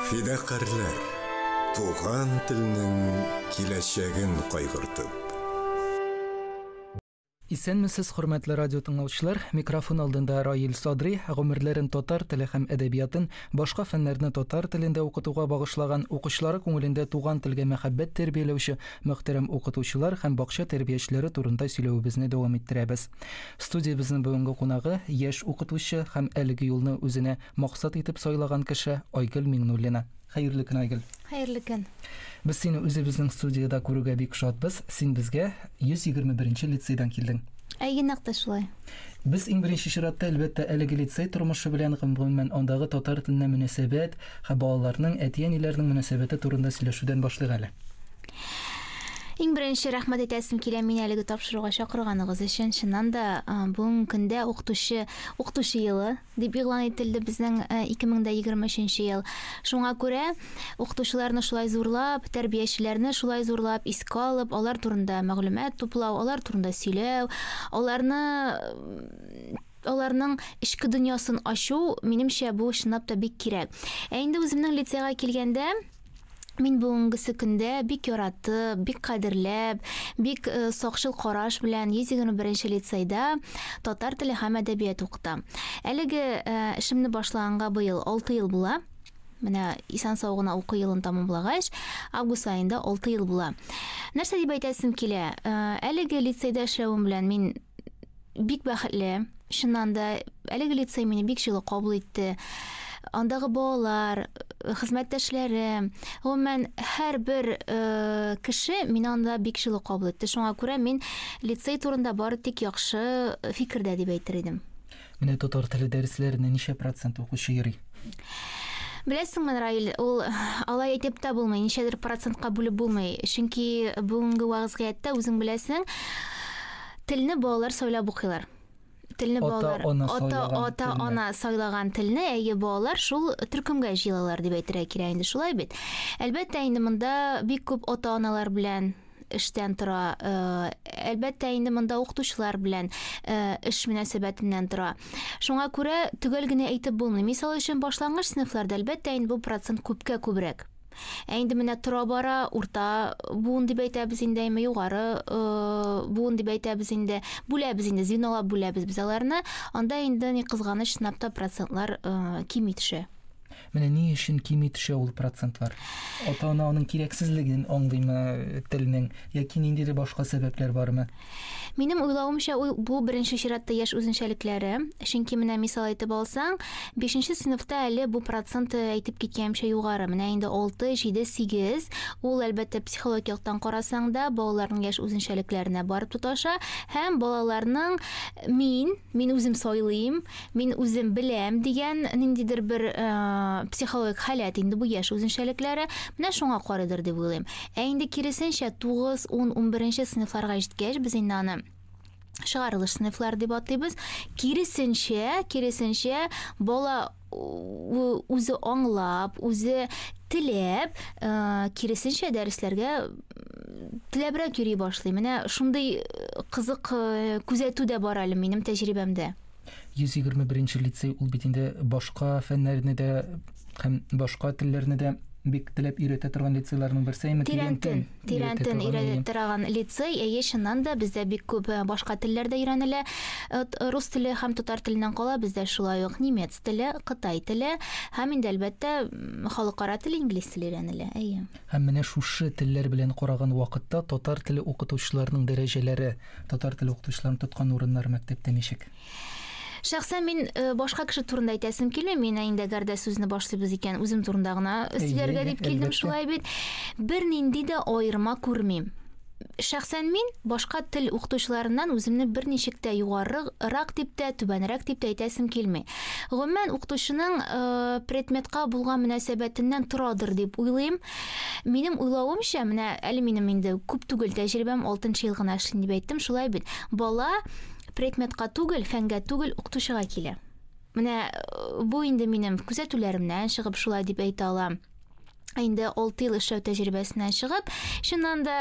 Фидакарьләр, туган телнең киләчәген кайгыртып. Исәнмесез, хөрмәтле радиотыңлаучылар! Микрофон алдында Раил Садри, гомерләрен татар теле һәм әдәбиятын, башка фәннәрне татар телендә укытуга багышлаган, укучылары күңелендә туган телгә мәхәббәт тәрбияләүче мөхтәрәм укытучылар һәм бакча тәрбиячеләре турында сөйләвебезне дәвам иттерәбез. Студиябезнең бүгенге кунагы, яшь укытучы һәм әлеге юлны үзенә максат итеп сайлаган кеше Айгөл Миңнуллина. Хәерле көн, Айгөл! Хәерле көн! Без сине үзебезнең студиядә күрүгә бик шатбыз. Син безгә 121 нче лицейдан килдең. Әйе, нәкъ тә шулай. Без иң беренче чиратта, әлбәттә, әлеге лицей тормышы белән, гомумән, андагы татар теленә мөнәсәбәт һәм балаларның, әти-әниләрнең мөнәсәбәте турында сөйләшүдән башлыйк әле. Иң беренче рәхмәт әйтәсем килә мин әлеге тапшыруга чакырганыгыз өчен. Чыннан да бүгенге көндә укытучы укытучы елы дип игълан ителде безнең 2023 ел. Шуңа күрә укытучыларны шулай зурлап, тәрбиячеләрне шулай зурлап искә алып, алар турында мәгълүмат туплау, алар турында сөйләү, аларны аларның эчке дөньясын ачу, минемчә, бу чынлап та бик кирәк. Ә инде үземнең лицейга килгәндә, Мин бүгенгесе көндә бик яратып, бик кадерләп, бик э, сакчыл караш белән 121 лицейда татар теле һәм әдәбият укытам. Әлеге э, эшемне башлаганга быел 6 ел була. Менә исән сау гына уку елын тәмамлагач, август аенда 6 ел була. Нәрсә дип әйтәсем килә? Э, әлеге лицейда эшләвем белән мин бик бәхетле. Чыннан да, әлеге лицей мине бик җылы кабул итте. Андагы балалар, хезмәттәшләре, гомумән, һәрбер э, кеше мине анда бик җылы кабул итте. Шуңа күрә мин лицей турында бары тик яхшы фикердә дип әйтер идем. Менә татар теле дәресләренә ничә процент укучы йөри? Беләсеңме, Раил, ул алай әйтеп тә булмый, ничәдер процентка бүлеп булмый. Чөнки бүгенге вәгъзгыятьтә үзең беләсең, телне балалар сайлап укыйлар. Телне балалар ата ата ана сайлаган телне, әйе, балалар шул төркемгә җыелалар дип әйтергә кирәк инде, шулай бит. Әлбәттә, инде монда бик күп ата-аналар белән эштән тора. Э, әлбәттә, инде монда укытучылар белән э, эш мөнәсәбәтеннән тора. Шуңа күрә төгәл генә әйтеп булмый. Мисал өчен, башлангыч сыйныфларда әлбәттә инде бу процент күпкә күбрәк. Ә инде менә тора бара, урта буын дип әйтәбез инде, әйме югары э, буын дип әйтәбез инде, бүләбез инде, звенолап бүләбез без аларны. Анда инде ни кызганыч, сынапта процентлар э, кими төшә. Менә ни өчен кими төшә ул процентлар? Ата-ана аның кирәксезлеген аңлыймы телнең, яки ниндидер башка сәбәпләр бармы? Минем уйлавымча, ул бу беренче чиратта яшь үзенчәлекләре. Чөнки менә мисал әйтеп алсаң, бишенче сыйныфта әле бу процент әйтеп киткәемчә югары. Менә инде алты, җиде, сигез. Ул, әлбәттә, психологик яктан карасаң да, балаларның яшь үзенчәлекләренә барып тоташа һәм балаларның мин, Мин үзем сайлыйм, мин үзем беләм дигән ниндидер бер психологик халәт инде бу яшь үзенчәлекләре. Менә шуңа карыйдыр дип уйлыйм. Ә инде киресенчә 9, 10, 11 сыйныфларга җиткәч без инде аны чыгарылыш сыйныфлар дип атыйбыз. Киресенчә, киресенчә бала үзе аңлап, үзе теләп, э, киресенчә дәресләргә теләбрәк йөри башлый. Менә шундый э, кызык э, күзәтү дә бар әле минем тәҗрибәмдә. 121 лицей ул бит инде башка фәннәрне дә һәм башка телләрне дә бик теләп өйрәтә торган лицейларның берсе әйме Тирәнтен. Тирән тын өйрәтә торган лицей, әйе, чыннан да бездә бик күп э, башка телләр дә өйрәнелә. Э, рус теле һәм татар теленнән кала бездә шулай ук немец теле, кытай теле һәм инде әлбәттә халыкара тел инглиз теле өйрәнелә. Әйе. Һәм менә шушы телләр белән караган вакытта татар теле укытучыларының дәрәҗәләре, татар теле укытучыларын тоткан урыннары мәктәптә ничек? Шәхсән мин э, башка кеше турында әйтәсем килми, мин инде әгәр дә сүзне башлыйбыз икән, үзем турында гына сөйләргә дип килдем шулай бит. Бернинди дә аерма күрмим. Шәхсән мин башка тел укытучыларыннан үземне берничек тә югарырак дип тә, түбәнрәк дип тә әйтәсем килми. Гомумән укытучының э, предметка булган мөнәсәбәтеннән торадыр дип уйлыйм. Минем уйлавымча, менә әле минем инде күп түгел тәҗрибәм 6 ел гына эшлим дип әйттем, шулай бит. Бала Предметка түгел, фәнгә түгел, укытучыга килә. Менә э, бу инде минем күзәтүләремнән чыгып шулай дип әйтә алам. Ә инде 6 ел эшләү тәҗрибәсеннән чыгып, чыннан да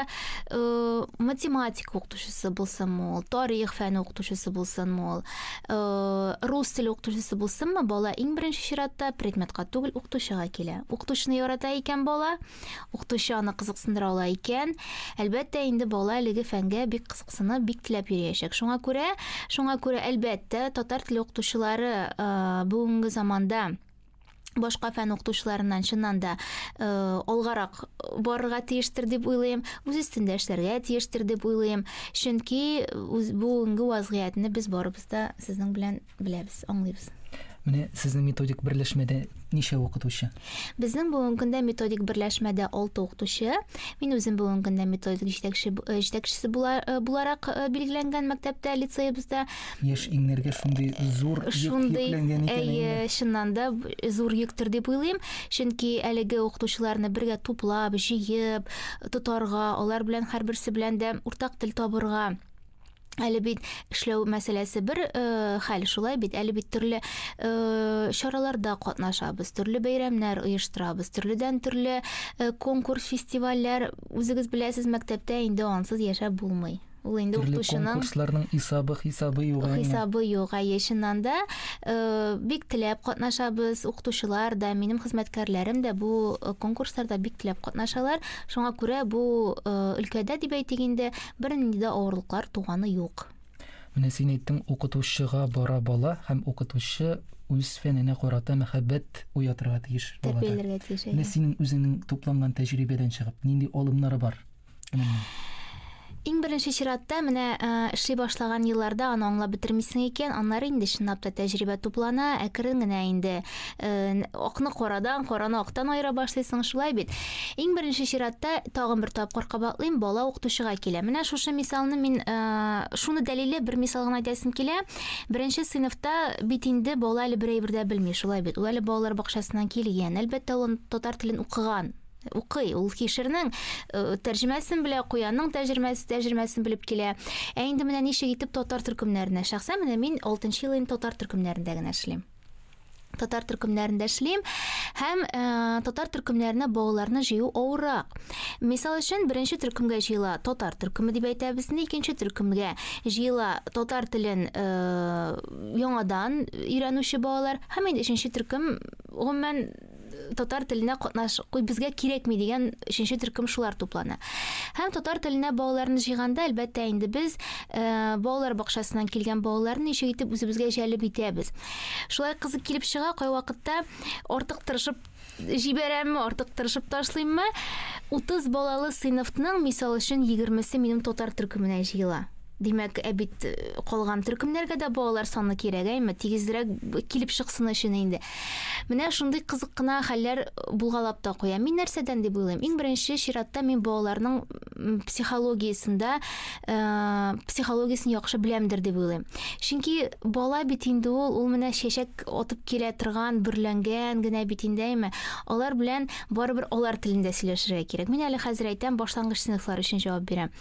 э, математика укытучысы булсынмы ул, тарих фәне укытучысы булсынмы ул, э, рус теле укытучысы булсынмы, бала иң беренче чиратта предметка түгел укытучыга килә. Укытучыны ярата икән бала, укытучы аны кызыксындыра ала икән, әлбәттә инде бала әлеге фәнгә бик кызык сыны бик теләп йөриячәк. Шуңа күрә, шуңа күрә әлбәттә, татар теле укытучылары э, бүгенге заманда башка фән укытучыларыннан чыннан да э, алгарак барырга тиештер дип уйлыйм үз өстендә эшләргә тиештер дип уйлыйм чөнки үз, бүгенге вазгыятьне без барыбыз да сезнең белән беләбез, аңлыйбыз. Менә сезнең методик берләшмәдә ничә укытучы? Безнең бүгенге көндә методик берләшмәдә 6 укытучы. Мин үзем бүгенге көндә методик җитәкче э, җитәкчесе э, буларак э, билгеләнгән мәктәптә, лицеебызда. Яшь иңнәргә шундый зур шундый, йөкләнгән икән. Әйе, чыннан да зур йөктер дип уйлыйм, чөнки әлеге укытучыларны бергә туплап, җыеп, тотарга, алар белән һәрберсе белән дә уртак тел табырга Әле бит эшләү мәсьәләсе бер э, хәл шулай бит. Әле бит төрле э, чараларда катнашабыз, төрле бәйрәмнәр оештырабыз, төрледән төрле э, конкурс, фестивальләр. Үзегез беләсез, мәктәптә инде ансыз яшәп булмый. Ул инде Төрле укытучының конкурсларның исабы, хисабы юк. әмма. хисабы юк. Әйе, чыннан да э, бик теләп катнашабыз. Укытучылар да, минем хезмәткәрләрем дә бу э, конкурсларда бик теләп катнашалар. Шуңа күрә бу э, өлкәдә дип әйтик инде Бернинди дә авырлыклар туганы юк. Менә син әйттең, укытучыга бара бала һәм укытучы үз фәненә карата мәхәббәт уятырга тиеш балада. Тәрбияләргә тиеш, әйе. Менә синең үзеңнең тупланган тәҗрибәдән чыгып, нинди алымнары бар моның? Иң беренче чиратта, менә эшли башлаган елларда аны аңлап бетермисең икән, аннары инде чынлап та тәҗрибә туплана, әкрен генә инде. акны карадан, караны актан аера башлыйсың, шулай бит. Иң беренче чиратта тагын бер тапкыр кабатлыйм, бала укытучыга килә. Менә шушы мисалны мин шуны дәлиле бер мисал гына әйтәсем килә. Беренче сыйныфта бит инде бала әле бер әйбер дә белми, шулай бит. Ул әле балалар бакчасыннан килгән. Әлбәттә, ул татар телен укыган, укый. Ул кишернең э, тәрҗемәсен белә, куянның тәҗермәс, тәҗермәсен белеп килә. Ә инде менә ничек итеп татар төркемнәренә. Шәхсән менә мин 6 ел инде татар төркемнәрендә генә эшлим. татар төркемнәрендә эшлим һәм ә, татар төркемнәренә балаларны җыю авыррак. Мисал өчен, беренче төркемгә җыела татар төркеме дип әйтәбез, икенче төркемгә җыела татар телен ә, яңадан өйрәнүче балалар һәм инде өченче төркем гомумән татар теленә катнаш куй безгә кирәкми дигән өченче төркем шулар туплана һәм татар теленә балаларны җыйганда әлбәттә инде без ә, балалар бакчасыннан килгән балаларны ничек итеп үзебезгә җәлеп итәбез шулай кызык килеп чыга кайвакытта артык тырышып җибәрәмме артык тырышып ташлыйммы 30 балалы сыйныфның мисал өчен егермесе минем татар төркеменә җыела Димәк, ә бит э, калган төркемнәргә дә балалар саны кирәк, әйме, тигезрәк килеп чыксын өчен инде. Менә шундый кызык кына хәлләр булгалап та куя. Мин нәрсәдән дип уйлыйм? Иң беренче чиратта мин балаларның психологиясендә э, психологиясен яхшы беләмдер дип уйлыйм. Чөнки бала бит инде ул, ул менә чәчәк атып килә торган, бүрләнгән генә бит инде, әйме. Алар белән барыбер алар телендә сөйләшергә кирәк. Мин әле хәзер әйтәм, башлангыч сыйныфлар өчен җавап бирәм.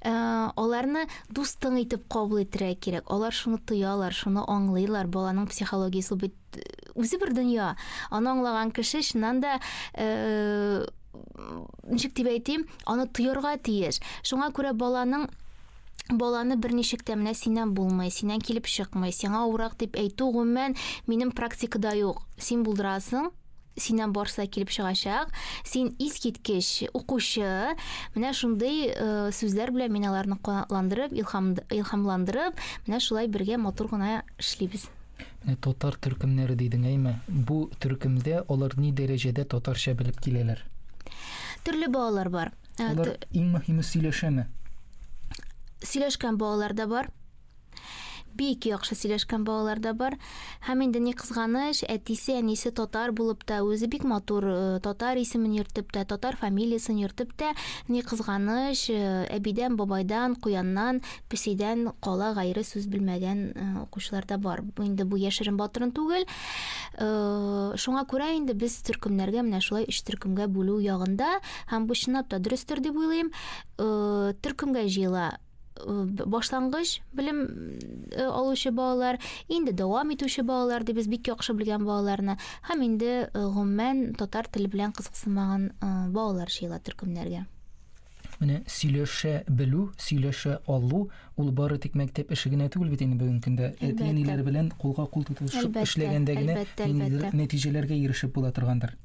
Э, аларны дустың итеп кабул иттерә кирәк. Алар шуны тоялар, шуны аңлыйлар. Баланың психологиясе бит э, үзе бер дөнья. Аны аңлаган кеше чыннан да э, ничек дип әйтим, аны тоярга тиеш. Шуңа күрә баланың баланы бер ничек тә менә синнән булмый, синнән килеп чыкмый, сиңа урак дип әйтү гомумән минем практикада юк. Син булдырасың, синнән барысы да килеп чыгачак. Син искиткеч укучы. Менә шундый э, сүзләр белән мин аларны канатландырып, илһам, илһамландырып, менә шулай бергә матур гына эшлибез. Менә татар төркемнәре дидең, әйме? Бу төркемдә алар ни дәрәҗәдә татарча белеп киләләр? Төрле балалар бар. Алар иң мөһиме сөйләшәме? Сөйләшкән балалар да бар. бик яхшы сөйләшкән балалар да бар. Һәм инде ни кызганыч, әтисе, әнисе татар булып та, үзе бик матур э, татар исемен йөртеп тә, татар фамилиясын йөртеп тә, ни кызганыч, э, әбидән, бабайдан, куяннан, песидән кала гайре сүз белмәгән э, укучылар да бар. Инде бу яшерен батырын түгел. Шуңа күрә инде без төркемнәргә менә шулай өч төркемгә бүлү ягында һәм бу чынлап та дөрестер дип уйлыйм. Төркемгә җыела башлангыч белем э, алучы балалар, инде дәвам итүче балалар дип без бик яхшы белгән балаларны һәм инде э, гомумән татар теле белән кызыксынмаган э, балалар җыела төркемнәргә. Менә сөйләшә белү, сөйләшә алу ул бары тик мәктәп эше генә түгел бит инде бүгенге көндә. Әти-әниләр белән кулга-кул тотышып эшләгәндә генә нәтиҗәләргә ирешеп була торгандыр.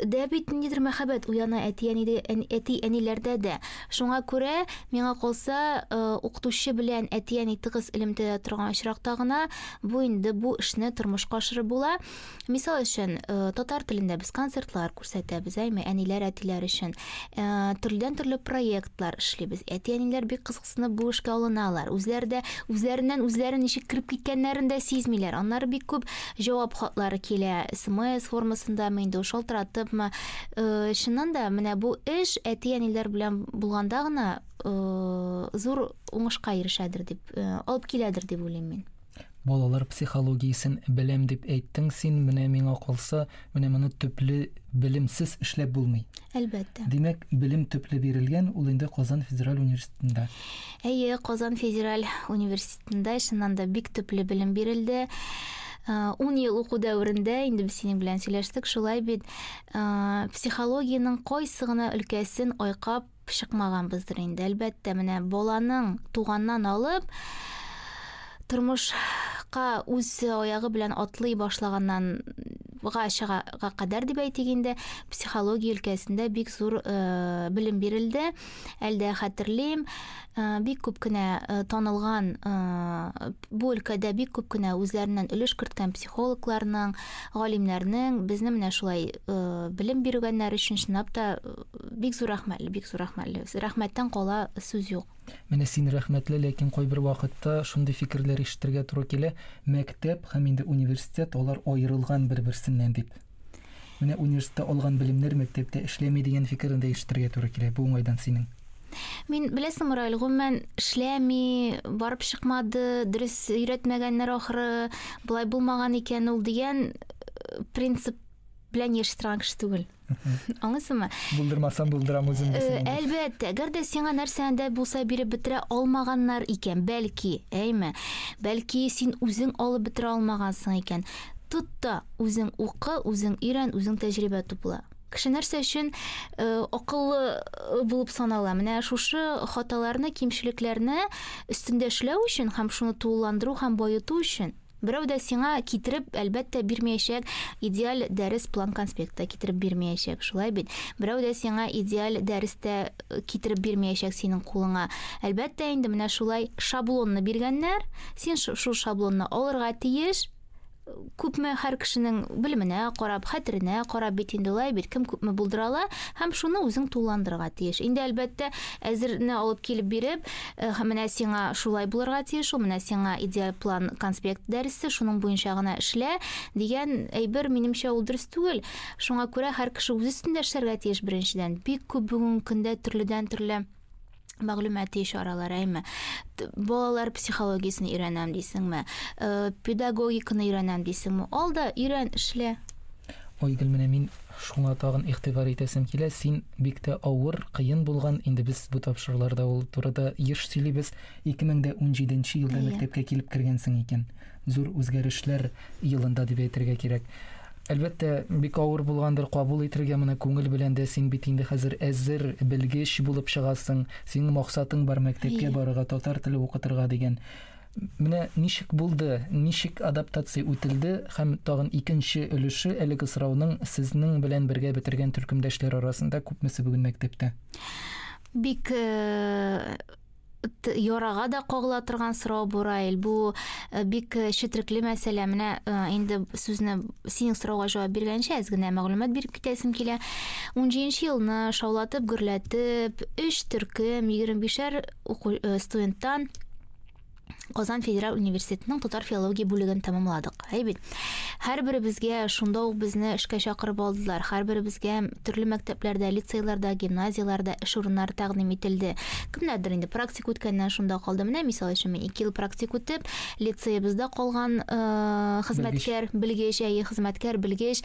дә бит ниндидер мәхәббәт уяна әти-әниләрдә дә. Шуңа күрә, миңа калса, э, укытучы белән әти-әни тыгыз элемтәдә торган очракта гына бу инде бу эшне тормышка ашырып була. Мисал өчен, э, татар телендә без концертлар күрсәтәбез, әйме, әниләр, әтиләр өчен. Э, төрледән-төрле проектлар эшлибез. Әти-әниләр бик кызыксына Сынып бу эшкә алыналар. Үзләре дә үзләреннән үзләре ничек кереп киткәннәрен дә сизмиләр. Аннары бик күп җавап хатлары килә. СМС формасындамы инде, шалтыратыпмы. Э, Чыннан да, менә бу эш әти-әниләр белән булганда гына э, зур уңышка ирешәдер дип, э, алып киләдер дип уйлыйм мин. Балалар психологиясен беләм дип әйттең син, менә миңа калса, менә моны төпле белемсез эшләп булмый. Әлбәттә. Димәк, белем төпле бирелгән, ул инде Казан федераль университетында. Әйе, Казан федераль университетында чыннан да бик төпле белем бирелде. 10 ел уку дәверендә инде без синең белән сөйләштек, шулай бит. Психологиянең кайсы гына өлкәсен айкап чыкмаганбыздыр инде, әлбәттә, менә баланың туганнан алып тормышка үз аягы белән атлый башлаганнан га чыгарга кадәр дип әйтик инде психология өлкәсендә бик зур э, белем бирелде әлдә хәтерлим э, бик күп кенә э, танылган э, бу өлкәдә бик күп кенә үзләреннән өлеш керткән психологларның галимнәрнең безне менә шулай э, белем биргәннәр өчен чынлап та э, Бик зур рәхмәтле, бик зур рәхмәтле. Рәхмәттән кала сүз юк. Менә син рәхмәтле, ләкин кайбер вакытта шундый фикерләр ишетергә туры килә, мәктәп һәм инде университет, алар аерылган бер-берсеннән дип. Менә университетта алган белемнәр мәктәптә эшләми дигән фикерне дә ишетергә туры килә. Бу уңайдан синең. Мин беләсең, Мораль, гомумән эшләми, барып чыкмады, дөрес өйрәтмәгәннәр ахры, болай булмаган икән ул дигән э, принцип белән яши торган кеше түгел. Аңлыйсыңмы? Булдырмасам булдырам үзем. Э, әлбәттә, гәр дә сиңа нәрсәне дә булса биреп бетерә алмаганнар икән, бәлки, әйме. Бәлки син үзең алып бетерә алмагансың икән. Тот та үзең укы, үзең өйрән, үзең тәҗрибә тупла. Кеше нәрсә өчен э, акыллы э, булып санала? Менә шушы хаталарны, кимчелекләрне өстендә эшләү өчен һәм шуны тулыландыру һәм баету өчен Берәү дә сиңа китереп, әлбәттә, бирмәячәк, идеаль дәрес план-конспект та китереп бирмәячәк, шулай бит? Берәү дә сиңа идеаль дәрес тә э, китереп бирмәячәк синең кулыңа. Әлбәттә, инде менә шулай шаблонны биргәннәр, син шул шаблонны алырга тиеш, күпме һәр кешенең белеменә карап, хәтеренә карап бит инде улай бит, кем күпме булдыра ала һәм шуны үзең тулландырырга тиеш. Инде әлбәттә, әзерне алып килеп биреп, Эх, менә сиңа шулай булырга тиеш ул, менә сиңа идеаль план конспект дәресе, шуның буенча гына эшлә, дигән әйбер, минемчә, ул дөрес түгел. Шуңа күрә һәр кеше үз өстендә эшләргә тиеш, беренчедән. Бик күп бүгенге көндә төрледән-төрле мәгълүмати чаралар, әйме. Балалар психологиясен өйрәнәм дисеңме, э, педагогиканы өйрәнәм дисеңме, ал да өйрән, эшлә. Айгөл, менә мин Шуңа тагын игътибар итәсем килә, син бик тә авыр, кыен булган, инде без бу тапшыруларда ул турыда еш сөйлибез, 2017 нче елда Әйе. мәктәпкә килеп кергәнсең икән. Зур үзгәрешләр елында дип әйтергә кирәк. Әлбәттә, бик авыр булгандыр, кабул ителгән моны күңел белән дә, син бит инде хәзер әзер, белгеч булып чыгасың, синең максатың бар, мәктәпкә Әйе. барырга, татар теле укытырга дигән. Менә ничек булды, ничек адаптация үтелде һәм тагын икенче өлеше әлеге сорауның сезнең белән бергә бетергән төркемдәшләр арасында күпмесе бүген мәктәптә? Бик ярага да кагыла торган сорау бу Раил. Бу э, бик э, четрекле мәсьәлә. Менә э, инде сүзне синең сорауга җавап биргәнчә әз генә мәгълүмат биреп китәсем килә. 17 елны шаулатып, гөрләтеп, 3 төркем, 25-шәр студенттан Казан федераль университетының татар филология бүлеген тәмамладык. Әй бит, һәрберебезгә шунда ук безне эшкә чакырып алдылар. Һәрберебезгә төрле мәктәпләрдә, лицейларда, гимназияләрдә эш урыннары тәкъдим ителде. Кемнәрдер инде практик үткәннән шунда калды. Менә мисал өчен мин 2 ел практик үтеп, лицеебызда калган э, хезмәткәр, белгеч, әйе, хезмәткәр, белгеч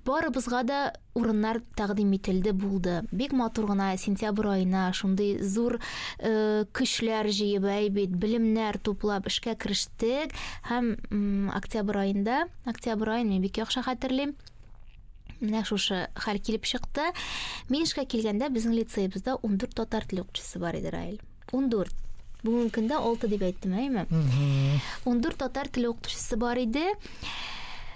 барыбызга да урыннар тәкъдим ителде, булды. Бик матур гына сентябрь аена шундый зур э, көчләр җыеп, әй бит, белемнәр туплап эшкә керештек һәм м, октябрь аенда, октябрь аен мин бик яхшы хәтерлим. Менә шушы хәл килеп чыкты. Мин эшкә килгәндә безнең лицеебызда 14 татар теле укытучысы бар иде, Раил. Ундүрт. Бүгенге көндә алты дип әйттем, әйме? Ундүрт татар теле укытучысы бар иде.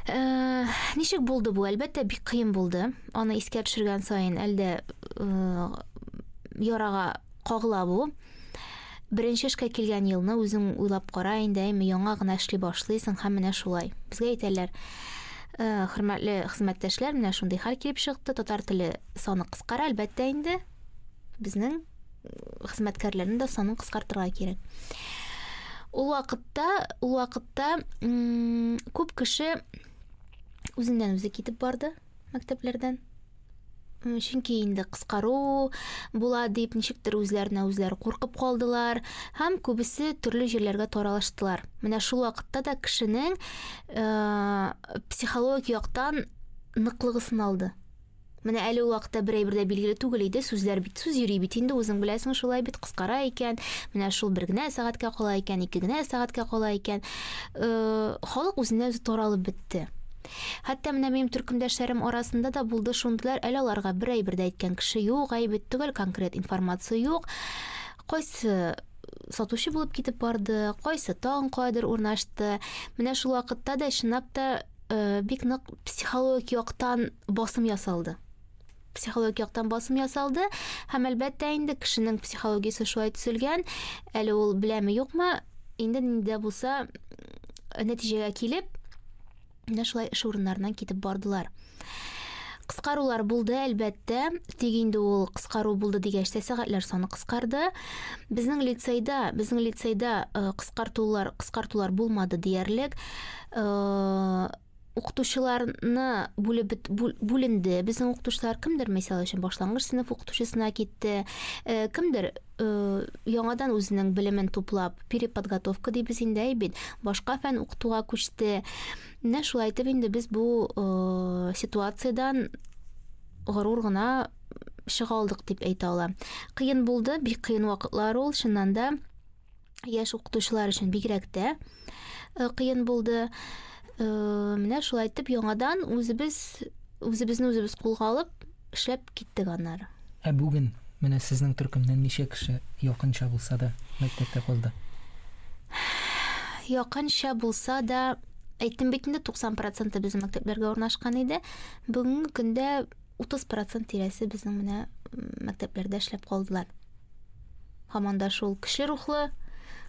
Э, ничек булды бу? Әлбәттә, бик кыен булды. Аны искә төшергән саен әлдә э, ярага кагыла бу. Беренче эшкә килгән елны үзең уйлап кара инде, әйме, яңа гына эшли башлыйсың һәм менә шулай. Безгә әйтәләр, э, хөрмәтле хезмәттәшләр, менә шундый хәл килеп чыкты. Татар теле саны кыскара, әлбәттә инде. Безнең хезмәткәрләрнең дә санын кыскартырга кирәк. Ул вакытта, ул вакытта күп кеше үзеннән үзе китеп барды мәктәпләрдән. Чөнки инде кыскару була дип ничектер үзләренә үзләре куркып калдылар һәм күбесе төрле җирләргә таралыштылар. Менә шул вакытта да кешенең э, психологик яктан ныклыгы сыналды. Менә әле ул вакытта бер әйбер дә билгеле түгел иде, сүзләр бит, сүз йөри бит инде, үзең беләсең, шулай бит, кыскара икән. Менә шул бер генә сәгатькә кала икән, ике генә сәгатькә кала икән. Э, халык үзеннән үзе таралып бетте. Хәтта менә минем төркемдәшләрем арасында да булды шундыйлар, әле аларга бер әйбер дә әйткән кеше юк, әйбет түгел, конкрет информация юк. Кайсы сатучы булып китеп барды, кайсы тагын кайдыр урнашты. Менә шул вакытта да чынлап та Э, бик нык психологик яктан басым ясалды психологик яктан басым ясалды һәм әлбәттә инде кешенең психологиясе шулай төзелгән әле ул беләме юкмы инде нинди булса э, нәтиҗәгә килеп менә шулай эш урыннарыннан китеп бардылар кыскарулар булды әлбәттә тик инде ул кыскару булды дигәч тә сәгатьләр саны кыскарды безнең лицейда безнең лицейда э, кыскартулар кыскартулар булмады диярлек Э, укытучыларны бүлеп бит- бүл- бүленде безнең укытучылар кемдер мисал өчен башлангыч сыйныф укытучысына китте Э, кемдер э, яңадан үзенең белемен туплап переподготовка дибез инде әй бит башка фән укытуга күчте менә шулай итеп инде без бу э, ситуациядән горур гына чыга алдык дип әйтә алам кыен булды бик кыен вакытлар ул чыннан да яшь укытучылар өчен бигрәк тә э, кыен булды. Э, менә шулай итеп яңадан үзебез үзебезне үзебез кулга алып эшләп киттек аннары. Ә бүген менә сезнең төркемнән ничә кеше якынча булса да мәктәптә калды? Якынча булса да әйттем бит инде 90% безнең мәктәпләргә урнашкан иде. Бүгенге көндә 30 процент тирәсе безнең менә мәктәпләрдә эшләп калдылар. Һаман да шул көчле рухлы,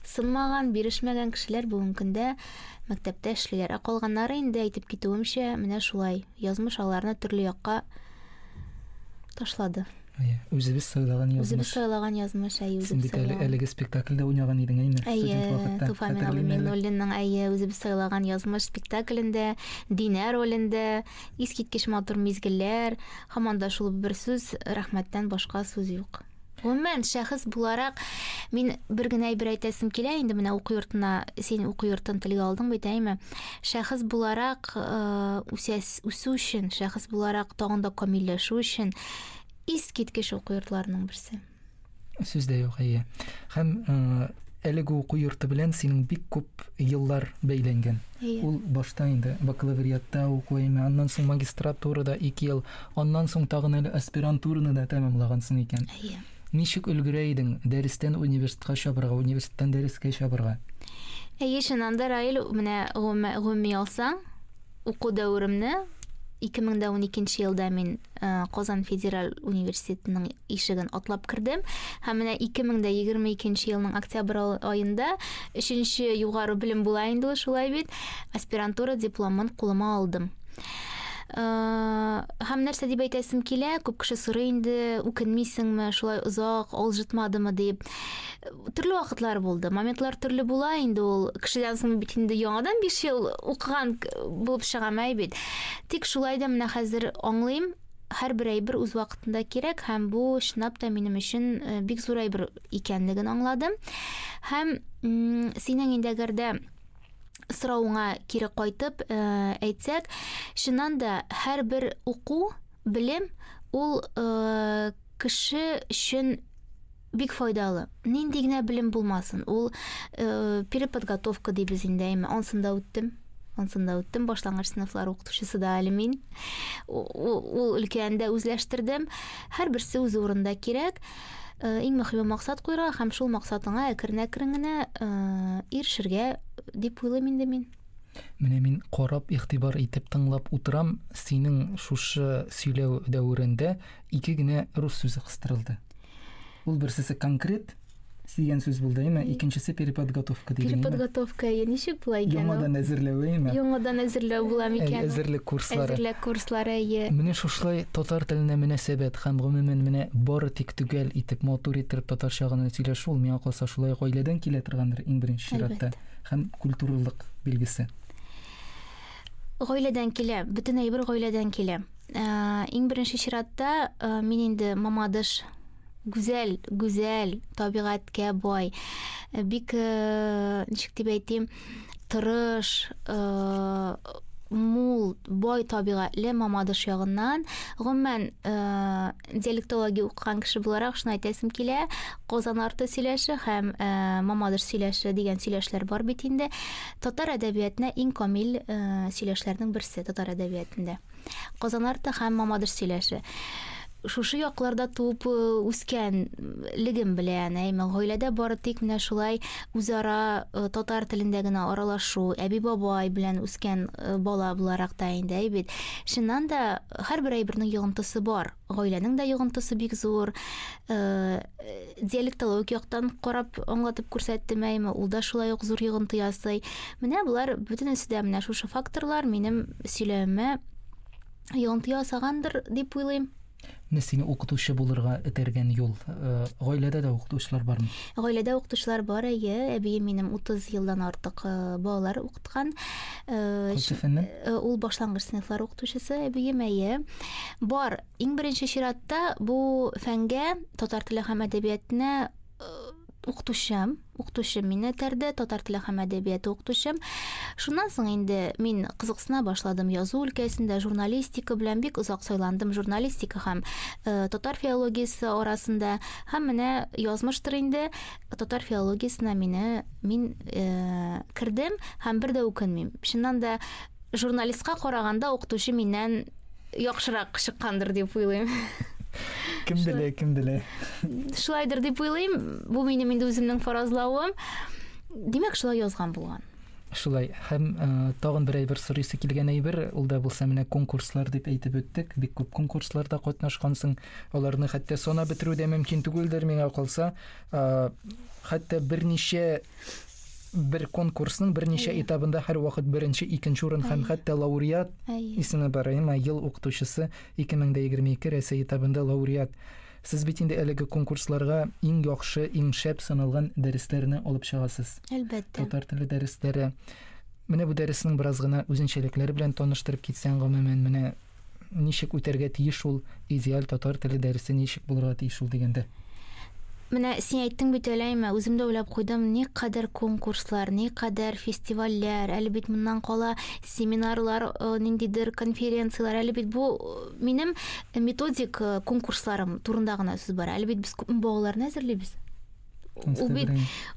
сынмаган, бирешмәгән кешеләр бүгенге көндә мәктәптә эшлиләр. Ә калганнары инде әйтеп китүемчә, менә шулай. Язмыш аларны төрле якка ташлады. Әйе, үзебез сайлаган язмыш. Үзебез сайлаган язмыш, әйе, үзебез сайлаган. Син бит әлеге спектакльдә уйнаган идең, әйме? Әйе, Туфа Миналы Минуллинның әйе, үзебез сайлаган язмыш спектаклендә, Динә ролендә, Искиткеч матур мизгелләр, һаман да шул бер сүз, рәхмәттән башка сүз юк. Гомумән, шәхес буларак мин бер генә әйбер әйтәсем килә инде менә уку йортына, син уку йортын телгә алдың бит, әйме? Шәхес буларак э, үсәс, үсү өчен, шәхес буларак тагын да камилләшү өчен искиткеч уку йортларының берсе. Сүз дә юк, әйе. Һәм э, әлеге уку йорты белән синең бик күп еллар бәйләнгән. Әйе. Ул башта инде бакалавриатта уку әйме, аннан соң магистратурада ике ел, аннан соң тагын әле аспирантураны да тәмамлагансың икән. Әйе. Ничек өлгерә идең дәрестән университетка чабырга, университеттан дәрескә чабырга? Әйе, чыннан да, Раил, менә гөме алсаң, уку дәверемне 2012 елда мин Э, Казан федераль университетының ишеген атлап кердем. Һәм менә 2022 елның октябрь аенда өченче югары белем була инде шулай бит, аспирантура дипломын кулыма алдым. Э, һәм нәрсә дип әйтәсем килә, күп кеше сорый инде, үкенмисеңме, шулай озак алжытмадымы дип. төрле вакытлар булды. Моментлар төрле була инде ул. Кешедән соң бит инде яңадан 5 ел укыган булып чыгам әй бит. Тик шулай да менә хәзер аңлыйм, һәрбер әйбер үз вакытында кирәк һәм бу чынлап та минем өчен э, бик зур әйбер икәнлеген аңладым. Һәм синең инде әгәр дә соравыңа кире кайтып э, әйтсәк, чыннан да һәрбер уку, белем ул э, кеше өчен бик файдалы. Нинди генә белем булмасын, ул э, переподготовка дибез инде, әйме, ансында үттем. Ансында үттем, башлангыч сыйныфлар укытучысы да әле мин. Ул өлкәне дә үзләштердем. Һәрберсе үз урында кирәк. Э, иң мөхиме максат куйырга һәм шул максатыңа әкрен-әкрен генә э, ирешергә дип уйлыйм инде мин. Менә мин карап, игътибар итеп тыңлап утырам, синең шушы сөйләү дәверендә ике генә рус сүзе кыстырылды. Ул берсесе конкрет дигән сүз булды, әйме? Икенчесе переподготовка диде. Переподготовка, әйе, ничек була икән? Яңадан әзерләү, әйме? Яңадан әзерләү була микән? Әзерлек курслары. Әзерлек курслары, әйе. Менә шушлай татар теленә мөнәсәбәт һәм гомумән менә бары тик төгәл итеп, матур итеп татарча гына сөйләшү ул миңа калса шулай ук гаиләдән килә торгандыр иң беренче чиратта. Һәм культуралык билгесе. Гаиләдән килә, бөтен әйбер гаиләдән килә. Ә, иң беренче чиратта ә, мин инде мамадыш гүзәл, гүзәл, табигатькә бай, э, бик э, ничек дип әйтим, тырыш, э, мул, бай табигатьле мамадыш ягыннан, гомумән, э, диалектология укыган кеше буларак шуны әйтәсем килә казан арты сөйләше һәм ә, мамадыш сөйләше дигән сөйләшләр бар бит инде татар әдәбиятына иң камил ә, сөйләшләрнең берсе татар әдәбиятында казан арты һәм мамадыш сөйләше шушы якларда туып үскәнлегем белән әйме гаиләдә бары тик менә шулай үзара татар телендә генә аралашу әби бабай белән үскән бала буларак та инде әйбит чыннан да Һәрбер әйбернең йогынтысы бар. Гаиләнең дә йогынтысы бик зур. Э, диалектологик яктан карап аңлатып күрсәттем әйме, ул да шулай ук зур йогынты ясый. Менә болар бөтенесе дә менә шушы факторлар минем сөйләвемә йогынты ясагандыр дип уйлыйм. Менә сине укытучы булырга этәргән юл. Э, гаиләдә дә укытучылар бармы? Гаиләдә укытучылар бар, әйе. Әбием минем 30 елдан артык э, балалар укыта. укыткан. Э, Кайсы фәннән? Э, ул башлангыч сыйныфлар укытучысы әбием, әйе. Бар, иң беренче чиратта бу фәнгә, татар теле һәм әдәбиятына э, укытучым, укытучым мине этәрде, татар теле һәм әдәбияты укытучым. Шуннан соң инде мин кызыксына башладым язу өлкәсендә, журналистика белән бик озак сайландым, журналистика һәм э, татар филологиясе арасында. Һәм менә язмыштыр инде, татар филологиясенә мине мин э, кердем һәм бер дә үкенмим. Чыннан да журналистка караганда укытучы миннән яхшырак чыккандыр дип уйлыйм. Кем белә, кем белә. Шулайдыр дип уйлыйм. Бу минем инде үземнең фаразлавым. Димәк, шулай язган булган. Шулай һәм ә, э, тагын бер әйбер сорыйсы килгән әйбер, ул да булса менә конкурслар дип әйтеп үттек. Бик күп конкурсларда катнашкансың. Аларны хәтта санап бетерү дә мөмкин түгелдер, миңа калса. Хәтта берничә бер конкурсның берничә этабында һәр вакыт беренче, икенче урын һәм хәтта лауреат исеме бар. Әмма ел укытучысы 2022 Рәсәй этабында лауреат. Сез бит инде әлеге конкурсларга иң яхшы, иң шәп саналган дәресләрне алып чыгасыз. Әлбәттә. Татар теле дәресләре. Менә бу дәресенең бераз гына үзенчәлекләре белән таныштырып китсәң, гомумән, менә ничек үтәргә тиеш ул идеаль татар теле дәресе ничек булырга тиеш ул дигәндә? Менә син әйттең бит әләйме, үзем дә уйлап куйдым, никадәр конкурслар, никадәр фестивальләр, әле бит моннан кала семинарлар, ниндидер конференцияләр, әле бит бу минем методик конкурсларым турында гына сүз бара, әле бит без күпме балаларны әзерлибез. Ул бит,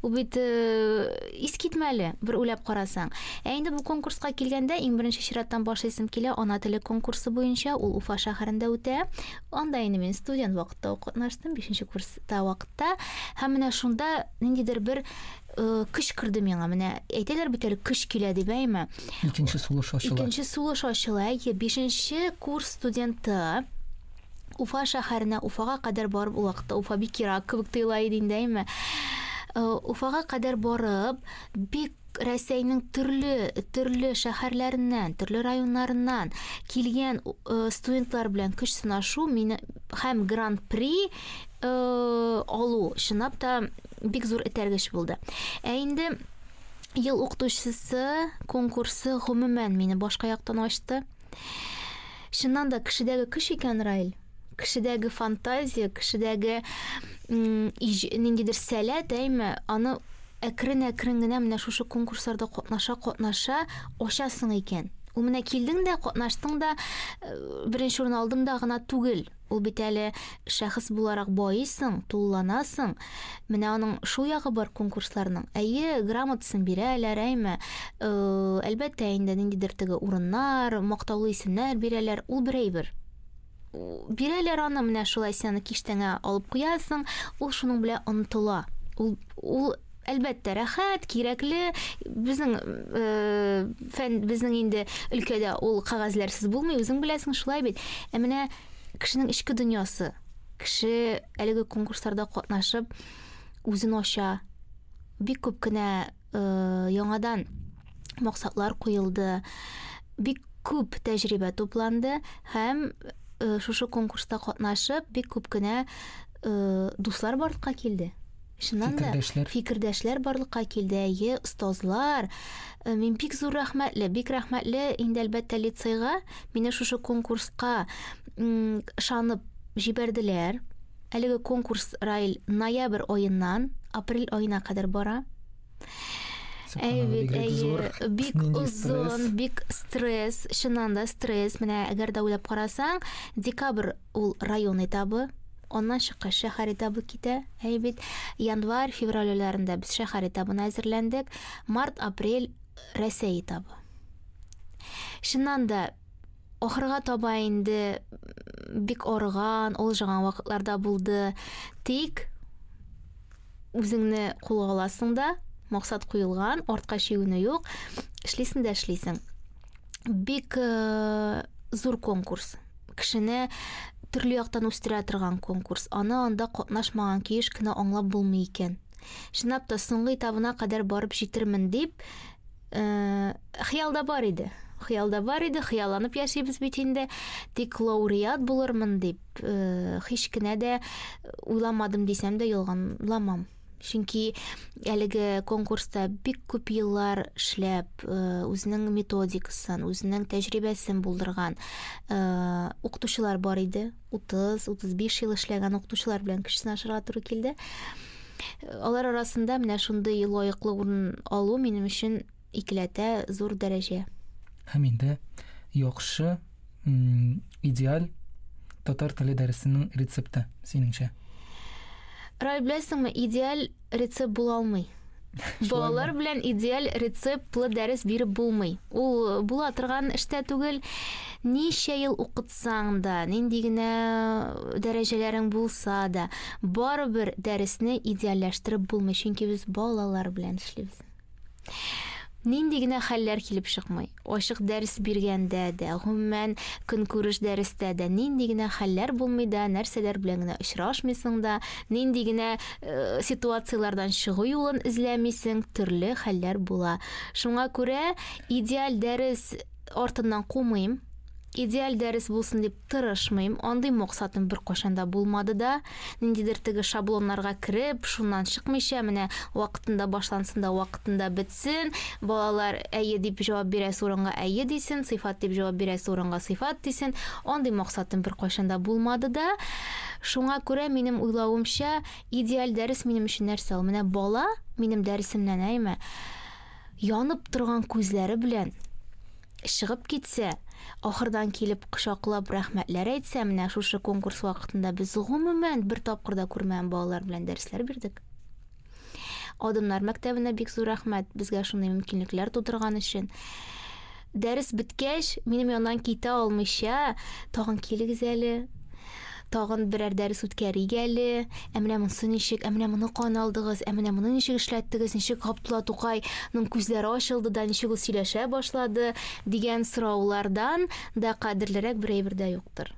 ул бит э, искитмәле, бер уйлап карасаң. Ә инде бу конкурска килгәндә, иң беренче чираттан башлыйсым килә, ана теле конкурсы буенча, ул Уфа шәһәрендә үтә. Анда инде мин студент вакытта катнаштым, 5 курста вакытта. Һәм менә шунда ниндидер бер э, көч керде миңа. Менә әйтәләр бит әле көч килә дип, әйме? Икенче сулыш ачыла. Икенче сулыш ачыла. Әйе, 5 курс студенты Уфа шәһәренә, Уфага кадәр барып, ул вакытта Уфа бик ерак кебек тоела иде инде, әйме. Э, Уфага кадәр барып, бик Рәсәйнең төрле төрле шәһәрләреннән, төрле районнарыннан килгән э, студентлар белән көч сынашу мине һәм гран-при э, алу чынлап та бик зур этәргеч булды. Ә инде ел укытучысы конкурсы гомумән мине башка яктан ачты. Чыннан да кешедәге көч икән Райл. Кешедәге фантазия, кешедәге ниндидер сәләт, әйме, аны әкрен-әкрен генә менә шушы конкурсларда катнаша-катнаша ачасың икән. Ул менә килдең дә, катнаштың да, э, беренче урын алдым да гына түгел. Ул бит әле шәхес буларак баыйсың, тулыланасың. Менә аның шул ягы бар конкурсларның. Әйе, грамотасын бирәләр, әйме. Э, әлбәттә инде ниндидер теге урыннар, мактаулы исемнәр бирәләр, ул бер әйбер бирәләр аны менә шулай сен аны киштәңә алып куясың ул шуның белән онытыла ул ул Әлбәттә, рәхәт, кирәкле. Безнең э, фән, безнең инде өлкәдә ул кагазьләрсез булмый, үзең беләсең, шулай бит. Ә менә кешенең эчке дөньясы, кеше әлеге конкурсларда катнашып үзен ача. Бик күп кенә э, яңадан максатлар куелды. Бик күп тәҗрибә тупланды һәм э, шушы конкурста катнашып бик күп кенә э, дуслар барлыкка килде. Чыннан да, фикердәшләр, фикердәшләр барлыкка килде, әйе, остазлар. Э, мин бик зур рәхмәтле, бик рәхмәтле инде әлбәттә лицейга, мине шушы конкурска ышанып җибәрделәр. Әлеге конкурс Райл ноябрь аеннан апрель аена кадәр бара. Әйбит, әйе, бик озын, бик стресс, чыннан да стресс. Менә әгәр дә уйлап карасаң, декабрь ул район этабы, Аннан чыккач шәһәр этабы китә. Әй бит январь, февраль айларында без шәһәр этабына әзерләндек. Март, апрель Рәсәй этабы. Шуннан да ахырга таба инде бик арыган, олжыган вакытларда булды. Тик Үзеңне кулга аласың да, максат куелган, артка чигенү юк. Эшлисең дә эшлисең. Бик э, зур конкурс. Кешене төрле яктан үстерә торган конкурс. Аны анда катнашмаган киеш кенә аңлап булмый икән. Чынлап та соңгы этабына кадәр барып җитермен дип Э, хыялда бар иде хыялда бар иде хыялланып яшибез бит инде тик лауреат булырмын дип э, һич кенә дә уйламадым дисәм дә ялганламам чөнки әлеге конкурста бик күп еллар эшләп э, үзенең методикасын үзенең тәҗрибәсен булдырган укытучылар бар иде 30-35 ел эшләгән укытучылар белән кеше сынашырга туры килде. Алар арасында менә шундый лаеклы урын алу минем өчен икеләтә зур дәрәҗә. Һәм инде яхшы идеаль татар теле дәресенең рецепты синеңчә? Рай, беләсеңме, идеаль Рецепт була алмый. Балалар белән идеаль рецептлы дәрес биреп булмый. Ул була торган эштә түгел. Ничә ел укытсаң да, нинди генә дәрәҗәләрең булса да, барыбер дәресне идеальләштереп булмый, чөнки без балалар белән эшлибез. Нинди генә хәлләр килеп чыкмый. Ачык дәрес биргәндә дә, гомумән, көнкүреш дәрестә дә нинди генә хәлләр булмый да, нәрсәләр белән генә очрашмыйсың да, нинди генә э, ситуацияләрдән чыгу юлын эзләмисең, төрле хәлләр була. Шуңа күрә идеаль дәрес артыннан кумыйм. Идеаль дәрес булсын дип Тырышмыйм, андый максатым беркайчан да булмады да. Ниндидер теге шаблоннарга кереп, шуннан чыкмыйча, менә вакытында башлансын да вакытында бетсен, балалар әйе дип җавап бирәсе урынга әйе дисен, сыйфат дип җавап бирәсе урынга сыйфат дисен, андый максатым беркайчан да булмады да. Шуңа күрә, минем уйлавымча, идеаль дәрес минем өчен нәрсә ул? Менә бала минем дәресемнән, әйме, янып торган күзләре белән Чыгып китсә, ахырдан килеп кочаклап рәхмәтләр әйтсә, менә шушы конкурс вакытында без гомумән бер тапкыр да күрмәгән балалар белән дәресләр бирдек. Адымнар мәктәбенә бик зур рәхмәт безгә шундый мөмкинлекләр тудырган өчен. Дәрес беткәч, минем яннан китә алмыйча, тагын килегез әле, Тагын берәр дәрес үткәрик әле. Ә менә монсы ничек? Ә менә моны кан алдыгыз? Ә менә моны ничек эшләттегез? Ничек Габдулла Тукай ның күзләре ачылды да, ничек ул сөйләшә башлады? дигән сораулардан да кадерлерәк бер әйбер дә юктыр.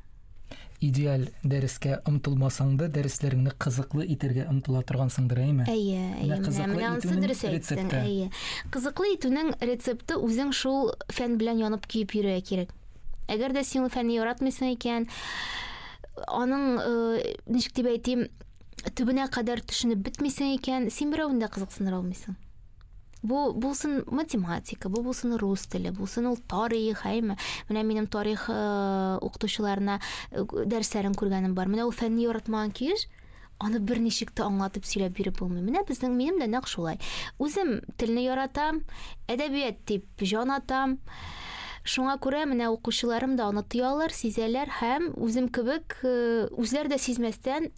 Идеаль дәрескә омтылмасаң да, дәресләреңне кызыклы итәргә омтыла торгансыңдыр, әйме? Әйе, әйе. Менә, менә анысы дөрес әйттең, әйе. Кызыклы итүнең рецепты үзең шул фән белән янып-көеп йөрергә кирәк. Әгәр дә син ул фәнне яратмыйсың икән, аның э, ничек дип әйтим, төбенә кадәр төшенеп бетмисең икән, син берәүне дә кызыксындыра алмыйсың. Бу булсын математика, бу булсын рус теле, булсын ул тарих, әйме. Менә минем тарих э, укытучыларына э, дәресләрен күргәнем бар. Менә ул фәнне яратмаган килеш, Аны берничек тә аңлатып сөйләп биреп булмый. Менә безнең минем дә нәкъ шулай. Үзем телне яратам, әдәбият дип җан атам. Шуңа күрә менә укучыларым да аны тоялар, сизәләр һәм үзем кебек э, үзләр дә сизмәстән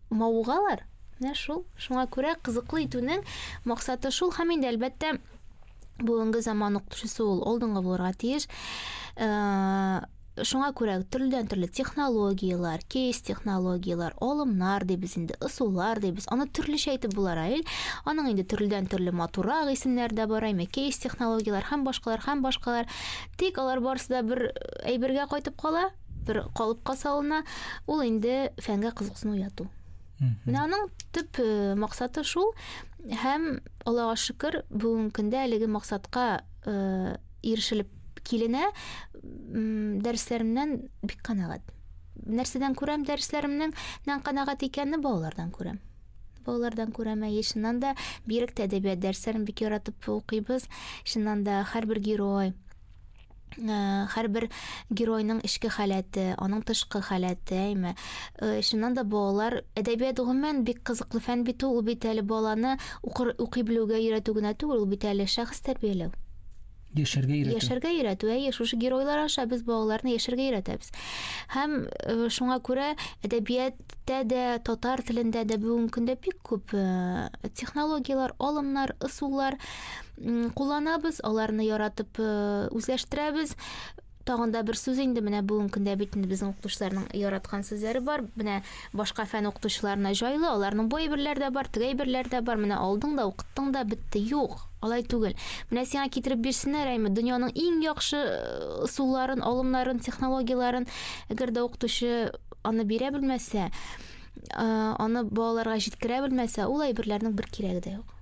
мавыгалар. Менә шул. Шуңа күрә кызыклы итүнең максаты шул һәм инде әлбәттә бүгенге заман укытучысы ул алдынгы булырга тиеш. Э, Шуңа күрә төрледән-төрле технологияләр, кейс технологияләр, алымнар дибез инде, ысуллар дибез. Аны төрлечә әйтеп була, Раил. Аның инде төрледән-төрле матуррак исемнәре дә бар, әйме кейс технологияләр һәм башкалар һәм башкалар. Тик алар барысы да бер әйбергә кайтып кала, бер калыпка салына. Ул инде фәнгә кызыксыну уяту. Менә аның төп э, максаты шул һәм Аллага шөкер, бүгенге көндә әлеге максатка э, ирешелеп Киленә дәресләремнән бик канәгать. Нәрсәдән күрәм дәресләремнең нән канәгать икәнне балалардан күрәм. Балалардан күрәм, әйе, чыннан да бирек тә әдәбият дәресләрен бик яратып укыйбыз. Чыннан да һәрбер герой, һәрбер геройның эчке халәте, аның тышкы халәте, әйме. Чыннан да балалар әдәбият гомумән бик кызыклы фән бит ул, бит әле баланы укыр, укый белүгә өйрәтү генә түгел, ул бит әле шәхес тәрбияләү. Яшәргә өйрәтү. Яшәргә өйрәтү, әйе, шушы геройлар аша без балаларны яшәргә өйрәтәбез. Һәм э, шуңа күрә әдәбияттә дә, татар телендә дә бүгенге көндә бик күп э, технологияләр, алымнар, ысуллар кулланабыз, аларны яратып э, үзләштерәбез. Тагын да бер сүз инде менә бүгенге көндә бит инде безнең укытучыларның яраткан сүзләре бар. Менә башка фән укытучыларына җайлы, аларның бу әйберләр дә бар, теге әйберләр дә бар. Менә алдың да, укыттың да, бетте. Юк, алай түгел. Менә сиңа китереп бирсеннәр, әйме, дөньяның иң яхшы ысулларын, алымнарын, технологияләрен, әгәр дә укытучы аны бирә белмәсә, аны балаларга җиткерә белмәсә, ул әйберләрнең бер кирәге дә юк.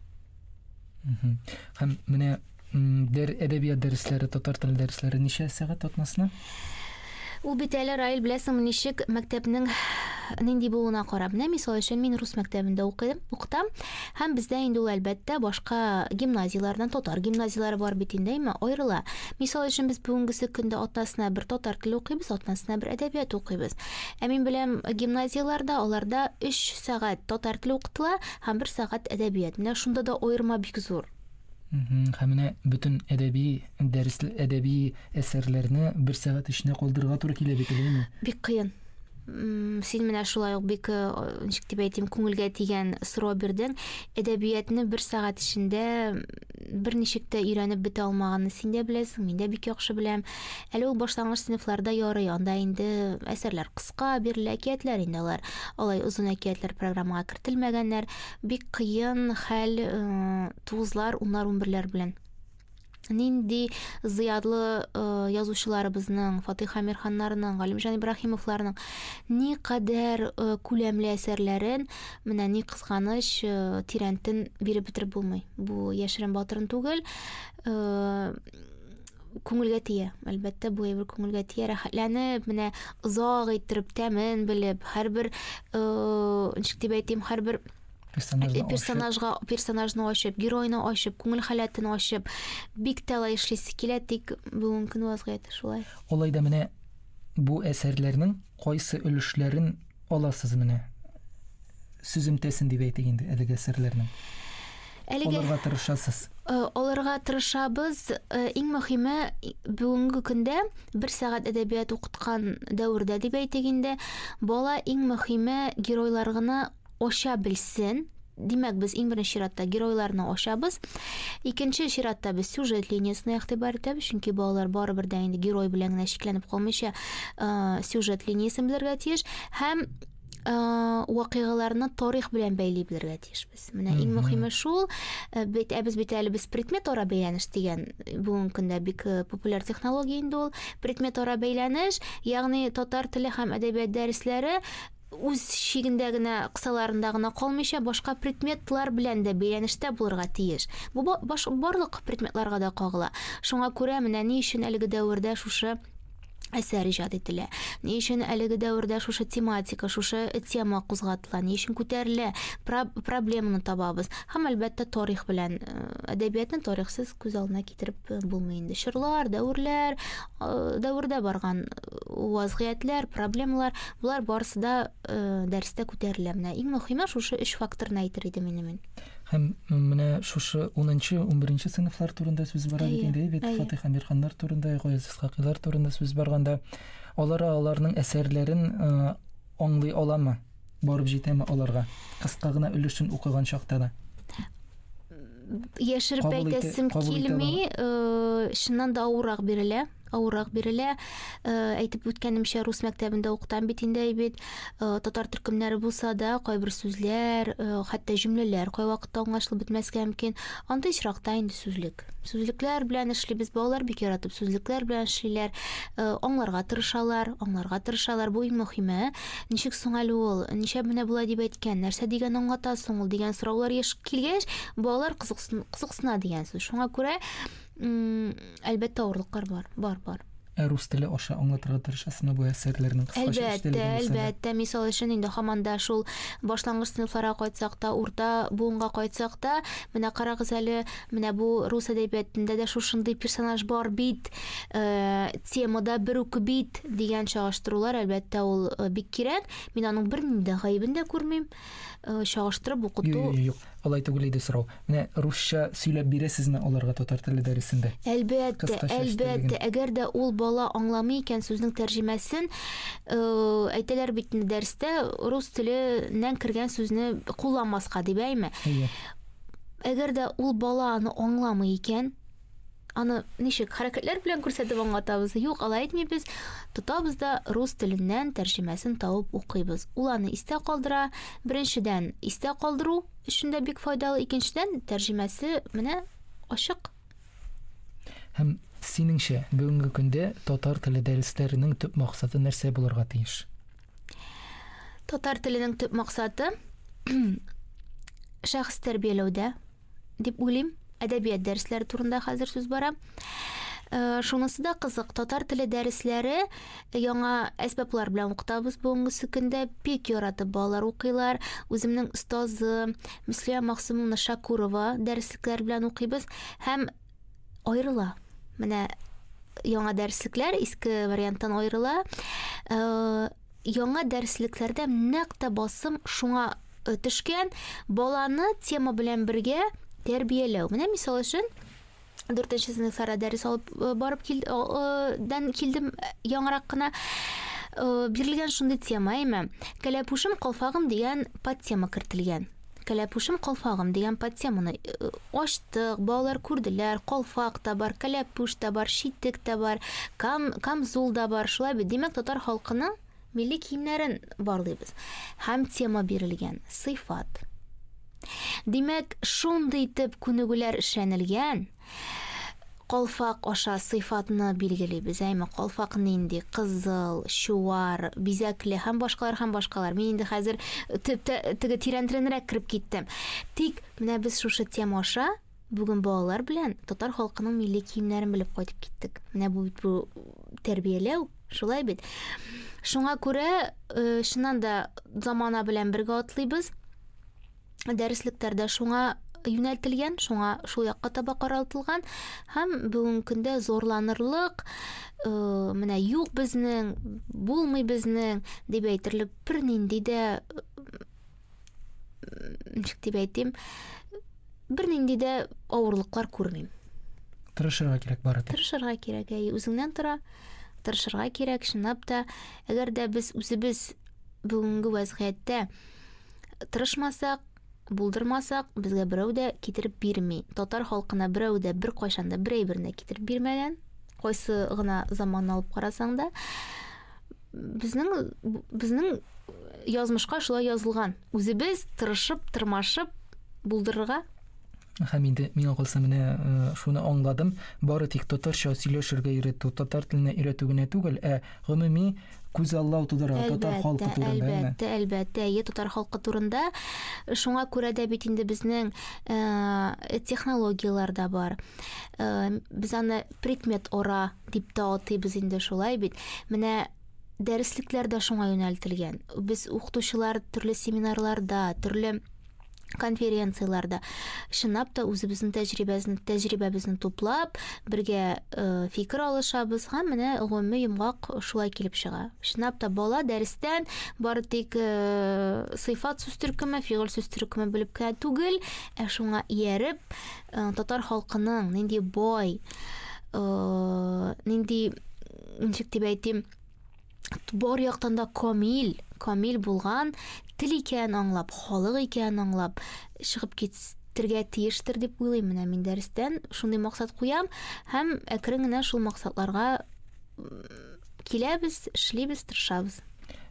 Һәм менә Дәр, әдәбият дәресләре, татар теле дәресләре ничә сәгать атнасына? Ул бит әле Раил беләсеңме ничек мәктәпнең нинди булуына карап. Менә мисал өчен мин рус мәктәбендә укыйм, укытам. Һәм бездә инде ул әлбәттә башка гимназияләрдән татар гимназияләре бар бит инде, әмма аерыла. Мисал өчен без бүгенгесе көндә атнасына бер татар теле укыйбыз, атнасына бер әдәбият укыйбыз. Ә мин беләм гимназияләрдә аларда 3 сәгать татар теле укытыла һәм 1 сәгать әдәбият. Менә шунда да аерма бик зур. Һәм менә бөтен әдәби дәрес әдәби әсәрләрне бер сәгать эченә калдырырга туры килә бит әлеме? Бик кыен. Син менә шулай ук бик э, ничек дип әйтим, күңелгә тигән сорау бирдең. Әдәбиятны бер сәгать эчендә бер ничек тә өйрәнеп бетә алмаганны син дә беләсең, мин дә бик яхшы беләм. Әле ул башлангыч сыйныфларда ярый, анда инде әсәрләр кыска бирелә, әкиятләр инде алар. Алай озын әкиятләр программага кертелмәгәннәр. Бик кыен хәл тугызлар, уннар, унберләр белән. Нинди зыядлы язучыларыбызның, Фатыйх Амирханнарының, Галимҗан Ибраһимовларның ни кадәр күләмле әсәрләрен, менә ни кызганыч, тирәнтен биреп бетереп булмый. Бу яшерен батырын түгел. күңелгә тия. Әлбәттә, бу әйбер күңелгә тия. Рәхәтләнеп, менә озак иттереп, тәмен белеп, һәрбер, э, ничек дип әйтим, һәрбер персонажны э, персонажга персонажны ачып, геройны ачып, күңел халәтен ачып, бик тә алай эшлисе килә, тик бүгенге көн вазгыяте шулай. Олай да менә бу әсәрләрнең Кайсы өлешләрен аласыз менә? Сүземтәсен дип әйтик инде әлеге әсәрләрнең. Әлеге алырга тырышасыз. Э, алырга тырышабыз. Э, иң мөхиме бүгенге көндә бер сәгать әдәбият укыткан дәвердә дип әйтик инде, бала иң мөхиме геройлар гына ача белсен. Димәк, без иң беренче чиратта геройларны ачабыз. Икенче чиратта без сюжет линиясенә игътибар итәбез, чөнки балалар барыбер дә инде герой белән генә чикләнеп калмыйча, э, сюжет линиясен белергә тиеш һәм э, вакыйгаларны тарих белән бәйли белергә тиешбез. Менә иң мөһиме шул. Э, Бит ә без бит әле без предмет ара бәйләнеш дигән э, бүгенге көндә бик э, популяр технология инде ул. Предмет ара бәйләнеш, ягъни татар теле һәм әдәбият дәресләре үз чигендә генә, кысаларында гына калмыйча, башка предметлар белән дә бәйләнештә булырга тиеш. Бу баш, барлык предметларга да кагыла. Шуңа күрә менә ни өчен әлеге дәвердә шушы әсәр иҗат ителә. Ни өчен әлеге дәвердә шушы тематика, шушы тема кузгатыла, ни өчен күтәрелә, проблеманы табабыз. Һәм әлбәттә тарих белән э, әдәбиятны тарихсыз күз алдына китереп э, булмый инде. Чорлар, дәверләр, э, дәвердә барган вазгыятьләр, проблемалар, болар барысы да э, дәрестә күтәрелә. Менә иң мөһиме шушы өч факторны әйтер идем инде мин. Һәм менә шушы 10-нчы, 11-нче сыйныфлар турында сүз бара бит инде, бит Фатих Амирханнар турында, Гаяз Исхакилар турында сүз барганда, алар аларның әсәрләрен э, аңлый аламы? Барып җитәме аларга? Кыска гына өлешен укыган чакта да. яшереп әйтәсем килми э, чыннан да авыррак бирелә авыррак бирелә э, әйтеп үткәнемчә рус мәктәбендә укытам бит инде бит э, татар төркемнәре булса да кайбер сүзләр хәтта җөмләләр кайвакытта аңлашылып бетмәскә мөмкин андый очракта инде сүзлек сүзлекләр белән эшлибез балалар бик яратып сүзлекләр белән эшлиләр аңларга тырышалар аңларга тырышалар бу иң мөһиме Ничек соң әле ул? Ничәп менә болай дип әйткән? Нәрсә дигән аңлата соң ул? Дигән сораулар еш килгәч, балалар кызыксына дигән сүз. Шуңа күрә, әлбәттә, авырлыклар бар. Бар, бар. Ә рус теле аша аңлатырга тырышасызмы бу әсәрләрнең кыскача эчтәлеген булса да? Әлбәттә, әлбәттә. Мисал өчен, инде һаман да шул башлангыч сыйныфларга кайтсак та, урта буынга кайтсак та, менә карагыз әле, Менә бу рус әдәбиятында да шушындый персонаж бар бит, э, темада бер үк бит дигән чагыштырулар, әлбәттә, ул э, бик кирәк. Мин аның бернинди дә гаебен дә күрмим. Э, чагыштырып укыту. Юк, юк, алай түгел иде сорау. Менә русча сөйләп бирәсезме аларга татар теле дәресендә? Әлбәттә, әлбәттә, әгәр дә ул бала аңламый икән сүзнең тәрҗемәсен, э, әйтәләр бит дәрестә рус теленнән кергән сүзне кулланмаска дип, әйме? Әгәр дә ул бала аны аңламый икән, аны ничек хәрәкәтләр белән күрсәтеп аңлатабыз? Юк, алай итмибез. Тотабыз да рус теленнән тәрҗемәсен табып укыйбыз. Ул аны истә калдыра. Беренчедән, истә калдыру өчен дә бик файдалы. Икенчедән, тәрҗемәсе менә ачык. Һәм синеңчә, бүгенге көндә татар теле дәресләренең төп максаты нәрсә булырга тиеш? Татар теленең төп максаты шәхес тәрбияләүдә дип уйлыйм. Әдәбият дәресләре турында хәзер сүз бара. Э, шунысы да кызык, татар теле дәресләре Яңа әсбаплар белән укытабыз бүгенгесе көндә. Бик яратып балалар укыйлар. Үземнең остазы Мөслимә Максымовна Шакурова дәреслекләр белән укыйбыз һәм аерыла. Менә яңа дәреслекләр иске варианттан аерыла. Э, яңа дәреслекләрдә нәкъ тә басым шуңа э, төшкән баланы тема белән бергә тәрбияләү. Менә мисал өчен дүртенче сыйныфларда дәрес алып э, барып кил, э, дән килдем э, яңарак кына бирелгән шундый тема әйме кәләпүшем калфагым дигән подтема кертелгән кәләпүшем калфагым дигән подтеманы ачтык балалар күрделәр калфак та бар кәләпүш тә бар читек тә бар кам камзул да бар шулай бит димәк татар халкының Милли киемнәрен барлыйбыз. Һәм тема бирелгән, сыйфат. Димәк, шундый итеп күнегүләр эшләнелгән, калфак аша сыйфатны билгелибез, әйме, калфак нинди, кызыл, чуар, бизәкле һәм башкалар һәм башкалар. Мин инде хәзер теге тирәнтренрәк кереп киттем. Тик менә без шушы тема аша Бүген балалар белән татар халкының милли киемнәрен белеп кайтып киттек. Менә бу бит бу тәрбияләү, шулай бит. Шуңа күрә э, чыннан да замана белән бергә атлыйбыз. Дәреслектәрдә шуңа юнәлтелгән, шуңа шул якка таба каралтылган һәм бүгенге көндә зурланырлык э, менә юк безнең, булмый безнең дип әйтерлек бернинди дә ничек дип әйтим бернинди дә авырлыклар күрмим тырышырга кирәк бары тик тырышырга кирәк әй үзеңнән тора тырышырга кирәк чынлап та әгәр дә без үзебез бүгенге вәзгыятьтә тырышмасак булдырмасак безгә берәү дә китереп бирми татар халкына берәү дә бер кайчан да бер әйберне китереп бирмәгән кайсы гына заманны алып карасаң да Безнең безнең язмышка шулай язылган. Үзебез тырышып, тырмашып булдырырга Һәм инде миңа калса менә э, шуны аңладым, бары тик татарча сөйләшергә өйрәтү, татар теленә өйрәтү генә түгел, ә гомуми күзаллау тудыра татар халкы турында. Әлбәттә, әлбәттә, е татар халкы турында. Шуңа күрә дә бит инде безнең э, технологияләр дә бар. Э, без аны Предмет ора дип тә атыйбыз инде, шулай бит? Менә дәреслекләр дә шуңа юнәлтелгән. Без укытучылар төрле семинарларда, төрле конференцияләрдә чынлап та үзебезнең тәҗрибәбезне тәҗрибәбезне туплап, бергә э, фикер алышабыз һәм менә гомуми йомгак шулай килеп чыга. Чынлап та бала дәрестән бары тик э, сыйфат сүз төркеме, фигыль сүз төркеме белеп кенә түгел, ә шуңа ияреп, Э, татар халкының нинди бай э, нинди ничек дип әйтим бар яктан да камил камил булган тел икәнен аңлап халык икәнен аңлап чыгып китергә тиештер дип уйлыйм менә мин дәрестән шундый максат куям һәм әкрен генә шул максатларга киләбез эшлибез тырышабыз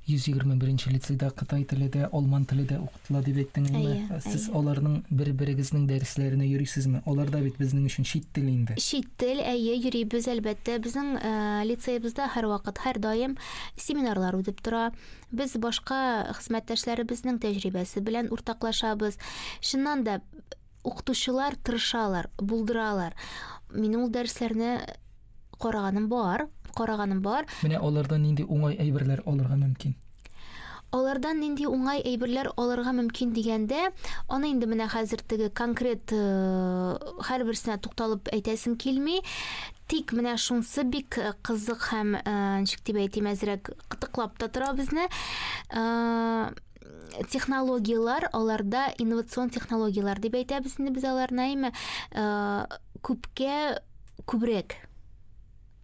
121 нче лицейда кытай теле дә, алман теле дә Ла дип әйттең инде. Сез аларның бер-берегезнең дәресләренә йөрисезме? Алар да бит безнең өчен чит тел инде. Чит тел, әйе, йөрибез, әлбәттә. Безнең лицеебызда һәрвакыт, һәрдаим семинарлар үтеп тора. Без башка хезмәттәшләребезнең тәҗрибәсе белән уртаклашабыз. Чыннан да, укытучылар тырышалар, булдыралар. Мин ул дәресләрне караганым бар, караганым бар. Менә алардан нинди уңай әйберләр алырга мөмкин? Алардан нинди уңай әйберләр алырга мөмкин дигәндә, аны инде менә хәзер теге конкрет э, һәрберсенә тукталып әйтәсем килми. Тик менә шунсы бик э, кызык һәм э, ничек дип әйтим, әзрәк кытыклап та тора безне. технологиялар аларда инновацион технологиялар дип әйтәбез инде без аларны әйме күпкә күбрәк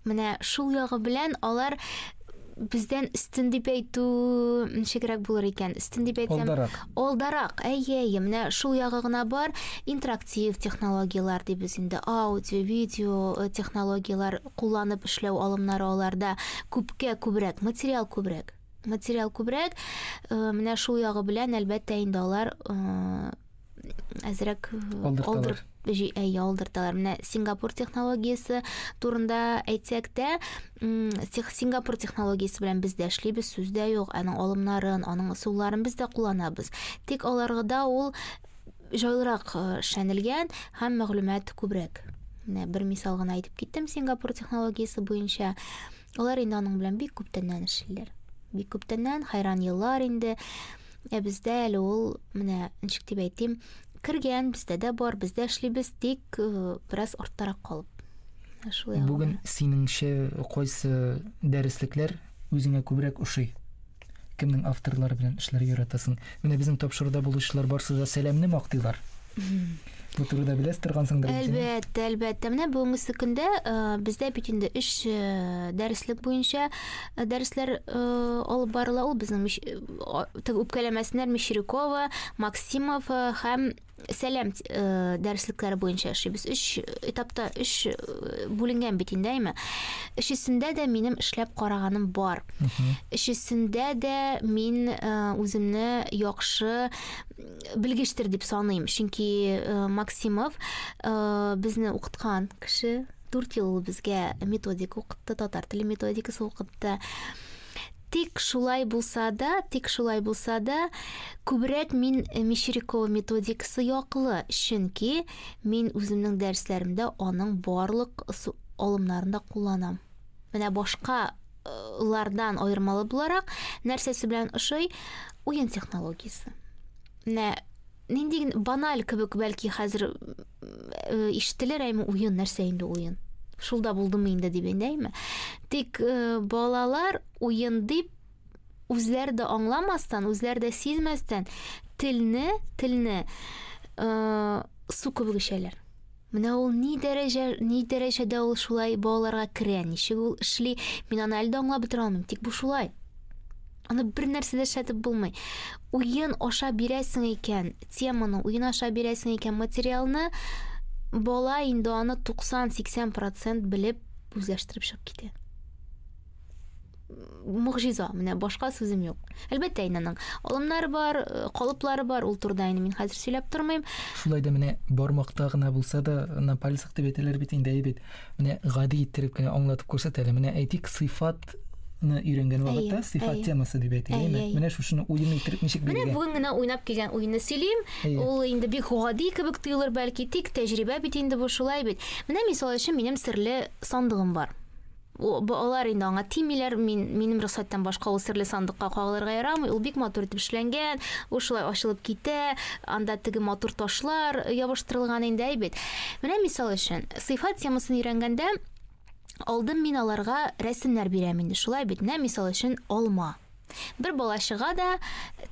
менә шул ягы белән алар бездән өстен дип әйтү ничегрәк булыр икән өстен дип әйтсәм алдарак алдарак әйе әйе менә шул ягы гына бар интерактив технологиялар дибез инде аудио видео э, технологиялар кулланып эшләү алымнары аларда күпкә күбрәк материал күбрәк материал күбрәк. Э, менә шул ягы белән, әлбәттә, инде алар э, әзрәк алдырталар. Әйе, алдырталар. Менә Сингапур технологиясе турында әйтсәк тә, Сингапур технологиясе белән без дә эшлибез, сүз дә юк. Аның алымнарын, аның ысулларын без дә кулланабыз. Тик аларгыда ул җайлырак эшләнелгән һәм мәгълүмат күбрәк. Менә бер мисал гына әйтеп киттем Сингапур технологиясе буенча. Алар инде аның белән бик күптәннән эшлиләр. Бик күптәннән, хайран еллар инде. Ә бездә әле ул, менә, ничек дип әйтим, кергән, бездә дә бар, без дә эшлибез, тик э, бераз арттарак калып. Ә Шулай Бүген синеңчә кайсы дәреслекләр үзеңә күбрәк ошый? Кемнең авторлары белән эшләргә яратасың? Менә безнең тапшыруда булучылар барсы да сәламне мактыйлар. Бу турыда беләс торгансыңдыр инде. Әлбәттә, әлбәттә. Менә бүгенге көндә э, бездә бит инде өч э, дәреслек буенча э, дәресләр алып барыла. Ул безнең үпкәләмәсеннәр Мещерякова, Максимов һәм сәләм э, дәреслекләре буенча эшлибез. Өч этапта өч э, бүленгән бит инде әйме. Өчесендә дә минем эшләп караганым бар. Өчесендә дә мин э, үземне яхшы белгештер дип саныйм. Чөнки Максимов безне укыткан кеше 4 ел ул безгә методика укытты, татар теле методикасы укытты. Тик шулай булса да, тик шулай булса да, күбрәк мин э, Мещерякова методикасы яклы, чөнки мин үземнең дәресләремдә аның барлык алымнарын да кулланам. Менә башка э, лардан аермалы буларак нәрсәсе белән ошый уен технологиясе. Менә нинди баналь кебек бәлки хәзер ишетелер әйме уен нәрсә инде уен шул да булдымы инде дип әйме тик балалар уен дип үзләре дә аңламастан үзләре дә сизмәстән телне телне су кебек эчәләр Менә ул ни дәрәҗә, ни дәрәҗәдә ул шулай балаларга керә, ничек ул эшли, мин аны әле дә аңлап бетерә алмыйм, тик бу шулай. Аны бер нәрсә дә эшләтеп булмый. Уен аша бирәсең икән, теманы уен аша бирәсең икән, материалны бала инде аны 90-80% белеп үзләштереп чыгып китә. Мөгъҗиза, менә башка сүзем юк. Әлбәттә, инде алымнар бар, э, калыплары бар, ул турыда инде мин хәзер сөйләп тормыйм. Шулай да менә бармакта гына булса да, на пальцах дип әйтәләр бит инде, әйбит. Менә гади иттереп кенә аңлатып күрсәтәләр. Менә әйтик, сыйфат сыйфатны өйрәнгән вакытта сыйфат темасы дип әйтелә. Менә шушыны уен итеп ничек биргән? Менә бүген генә уйнап килгән уенны сөйлим. Ул инде бик гади кебек тоелыр бәлки, тик тәҗрибә бит инде бу шулай бит. Менә мисал өчен минем серле сандыгым бар. Алар инде аңа тимиләр, мин минем рөхсәттән башка ул серле сандыкка кагылырга ярамый. Ул бик матур итеп эшләнгән, ул шулай ачылып китә, анда теге матур ташлар ябыштырылган инде әйбәт. Менә мисал өчен, сыйфат темасын өйрәнгәндә алдым мин аларга рәсемнәр бирәм инде, шулай бит, нә, мисал өчен, алма. Бер бала чыга да,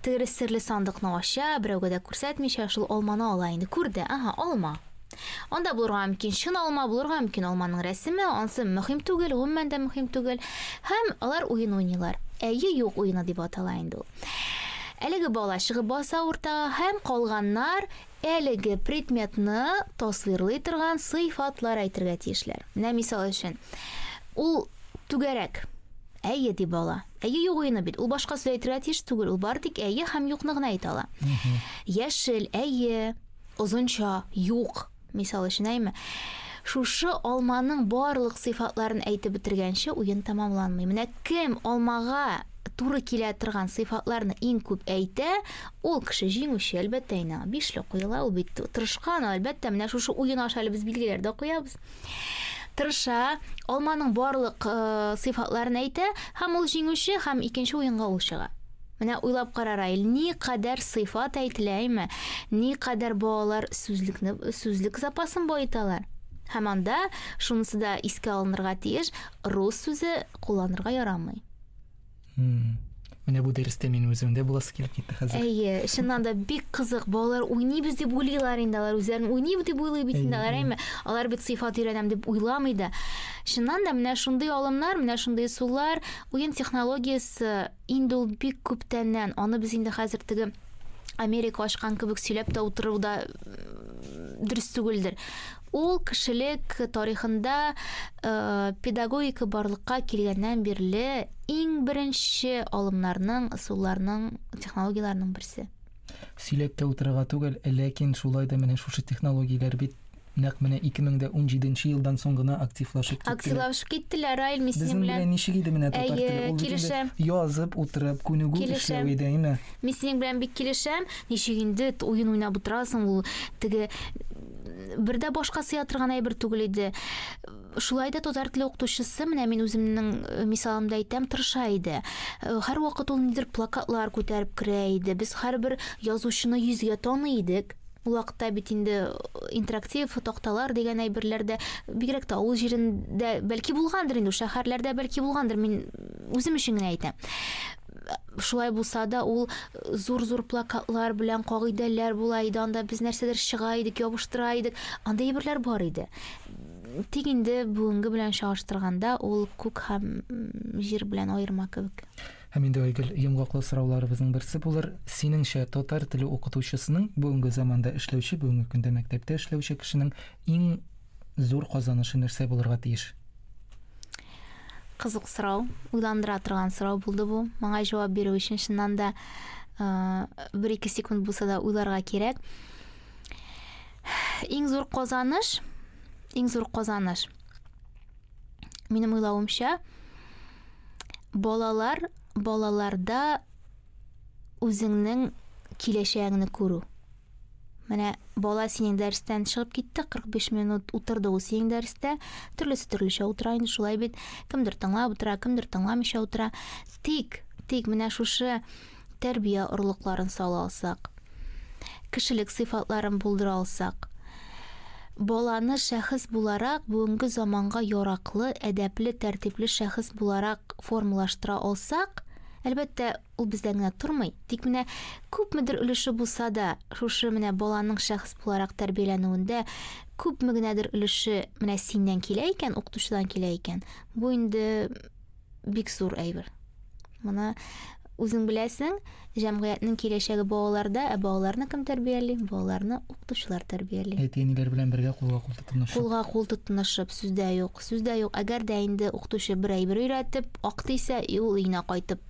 тере серле сандыкны ача, берәүгә дә күрсәтмичә, шул алманы ала инде. Күрде, ага, алма. Анда булырга мөмкин чын алма, булырга мөмкин алманың рәсеме, ансы мөһим түгел, гомумән дә мөһим түгел. Һәм алар уен уйныйлар. Әйе, юк уены дип атала инде ул. Әлеге бала чыгып баса уртага һәм калганнар Әлеге предметны тасвирлый торган сыйфатлар әйтергә тиешләр. Менә мисал өчен, ул түгәрәк. Әйе, ди бала. Әйе юк уены бит. Ул башка сүз әйтергә тиеш түгел. Ул бары тик әйе һәм юкны гына әйтә ала. Яшел, әйе, озынча, юк. Мисал өчен, әйме? Шушы алманың барлык сыйфатларын әйтеп бетергәнче уен тәмамланмый. Менә кем алмага туры килә торган сыйфатларны иң күп әйтә, ул кеше җиңүче, әлбәттә, инде аңа бишлек куела, ул бит тырышкан, әлбәттә, менә шушы уен аша әле без билгеләр дә куябыз. Тырыша, алманың барлык э, сыйфатларын әйтә, һәм ул җиңүче, һәм икенче уенга ул чыга. Менә уйлап кара, Раил, ни кадәр сыйфат әйтелә, әйме? Ни кадәр балалар сүзлекне, сүзлек запасын баеталар? Һәм анда, шунысы да искә алынырга тиеш, рус сүзе кулланырга ярамый. менә бу дәрестә мин үзем дә буласы килеп китте хәзер әйе чыннан да бик кызык балалар уйныйбыз деп уйлыйлар инде алар үзләрен уйныйбыз дип уйлый бит инде алар әйме алар бит сыйфат өйрәнәм дип уйламый да чыннан да менә шундый алымнар менә шундый сулар уен технологиясе инде ул бик күптәннән аны без инде хәзер теге Америка ачкан кебек сөйләп тә утыру да дөрес түгелдер. Ул кешелек тарихында э, педагогика барлыкка килгәннән бирле иң беренче алымнарның, ысулларның, технологияләрнең берсе. Сөйләп тә утырырга түгел, ләкин шулай да менә шушы технологияләр бит Нәкъ менә ике мең дә унҗиде нче елдан соң гына активлашып киттеләр. Активлашып киттеләр, Раил Миснин белән. Безнең белән ничек иде менә татар теле? Әйе, килешәм. Ул бит инде язып утырып, күнегү эшләү иде, әйеме? Килешәм. Миснин белән бик килешәм. Ничек инде уен уйнап утырасың, ул теге бер дә башка сыя торган әйбер түгел иде. Шулай да татар теле укытучысы, менә мин үземнең мисалымда әйтәм, тырыша иде. Һәрвакыт ул нидер плакатлар күтәреп керә иде. Без һәрбер язучыны йөзгә таный идек. Ул вакытта бит инде интерактив такталар дигән әйберләр дә бигрәк тә авыл җирендә бәлки булгандыр инде, шәһәрләрдә бәлки булгандыр, мин үзем өчен генә әйтәм. Шулай булса да, ул зур-зур плакатлар белән кагыйдәләр була иде, анда без нәрсәдер чыга идек, ябыштыра идек. Анда әйберләр бар иде. Тик инде бүгенге белән чагыштырганда, ул күк һәм җир белән аерма кебек. Һәм инде, Айгөл, йомгаклы сорауларыбызның берсе булыр, синеңчә, татар теле укытучысының, бүгенге заманда эшләүче, бүгенге көндә мәктәптә эшләүче кешенең иң зур казанышы нәрсә булырга тиеш? Кызык сорау, уйландыра торган сорау булды бу. Моңа җавап бирү өчен чыннан да бер-ике секунд булса да уйларга кирәк. Иң зур казаныш, иң зур казаныш. Минем уйлавымча, Балалар, балаларда үзеңнең киләчәгеңне күрү. Менә бала синең дәрестән чыгып китте, 45 минут утырды ул синең дәрестә. Төрлесе төрлечә утыра инде, шулай бит. Кемдер тыңлап утыра, кемдер тыңламыйча утыра. Тик, тик менә шушы тәрбия орлыкларын сала алсак, кешелек сыйфатларын булдыра алсак, баланы шәхес буларак бүгенге заманга яраклы, әдәпле, тәртипле шәхес буларак формалаштыра алсак, әлбәттә, ул бездән генә тормый. Тик менә күпмедер өлеше булса да, шушы менә баланың шәхес буларак тәрбияләнүендә күпме генәдер өлеше менә синнән килә икән, укытучыдан килә икән, бу инде бик зур әйбер. Моны үзең беләсең, җәмгыятьнең киләчәге балаларда, ә балаларны кем тәрбияли? Балаларны укытучылар тәрбияли. Әти-әниләр белән бергә кулга-кул тотынышып. Кулга-кул тотынышып, сүздә юк. Сүздә юк. Әгәр дә инде укытучы бер әйбер өйрәтеп, ак дисә, и ул өенә кайтып,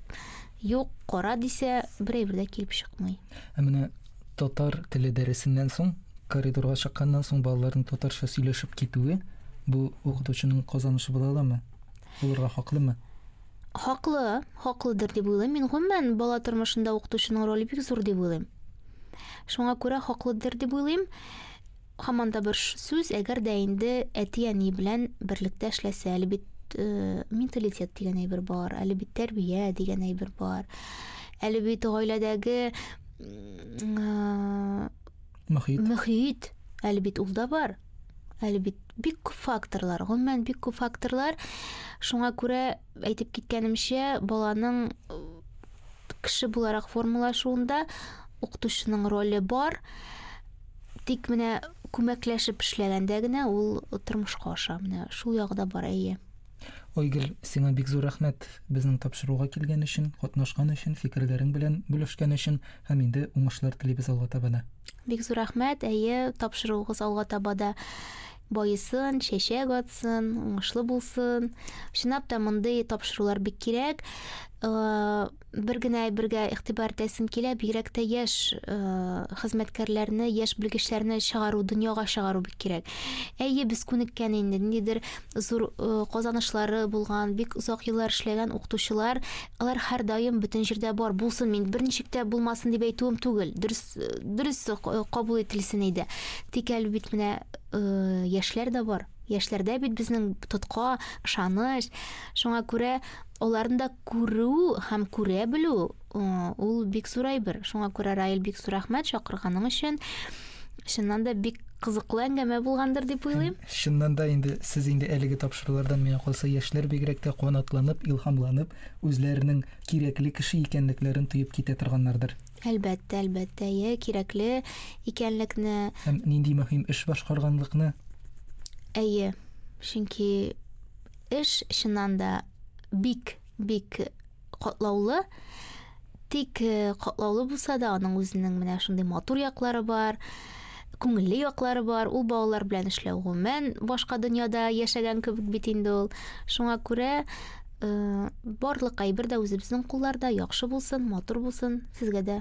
юк, кара дисә, бер әйбер дә килеп чыкмый. Ә менә татар теле дәресеннән соң, коридорга чыкканнан соң балаларның татарча сөйләшеп китүе, бу укытучының казанышы була аламы? булырга хаклымы? Хаклы, хаклыдыр дип уйлыйм. Мин гомумән бала тормышында укытучының роле бик зур дип уйлыйм. Шуңа күрә хаклыдыр дип уйлыйм. Хаман да бер сүз, әгәр дә инде әти-әни белән берлектә эшләсә, әле бит э, менталитет дигән әйбер бар, әле бит тәрбия дигән әйбер бар. Әле бит гаиләдәге э, Мөхит. Мөхит. Әле бит ул да бар. Әле бит бик күп факторлар, гомумән бик күп факторлар. Шуңа күрә әйтеп киткәнемчә, баланың кеше буларак формалашуында укытучының роле бар. Тик менә күмәкләшеп эшләгәндә генә ул тормышка аша. Менә шул ягы да бар, әйе. Ойгел, сиңа бик зур рәхмәт безнең тапшыруга килгән өчен, катнашкан өчен, фикерләрең белән бүлешкән өчен. Һәм инде уңышлар телибез алга таба да. Бик зур рәхмәт, әйе, тапшыруыгыз алга таба да байысын, чәчәк атсын, уңышлы булсын. Чынлап та мондый тапшырулар бик кирәк. Э, бер генә әйбергә игътибар итәсем килә, бигрәк тә яшь э, хезмәткәрләрне, яшь белгечләрне чыгару, дөньяга чыгару бик кирәк. Әйе, без күнеккән инде, ниндидер зур казанышлары булган, бик озак еллар эшләгән укытучылар, алар һәрдаим бөтен җирдә бар булсын, мин бер ничек тә булмасын дип әйтүем түгел. Дөрес, дөрес кабул ителсен иде. Тик әле бит менә яшьләр дә бар. Яшьләрдә бит безнең тотка, ышаныч. Шуңа күрә аларны да күрү һәм күрә белү ул бик зур әйбер. Шуңа күрә Раил бик зур рәхмәт чакырганың өчен. Чыннан да бик кызыклы әңгәмә булгандыр дип уйлыйм. Чыннан да инде сез инде әлеге тапшырулардан миңа калса яшьләр бигрәк тә канатланып, илһамланып, үзләренең кирәкле кеше икәнлекләрен тоеп китә торганнардыр. Әлбәттә, әлбәттә, әйе, кирәкле икәнлекне. Һәм нинди мөһим эш башкарганлыкны. Әйе, чөнки эш чыннан да бик, бик катлаулы. Тик э, катлаулы булса да, аның үзенең менә шундый матур яклары бар, күңелле яклары бар. Ул балалар белән эшләү гомумән башка дөньяда яшәгән кебек бит инде ул. Шуңа күрә э, барлык әйбер дә үзебезнең кулларда, яхшы булсын, матур булсын. Сезгә дә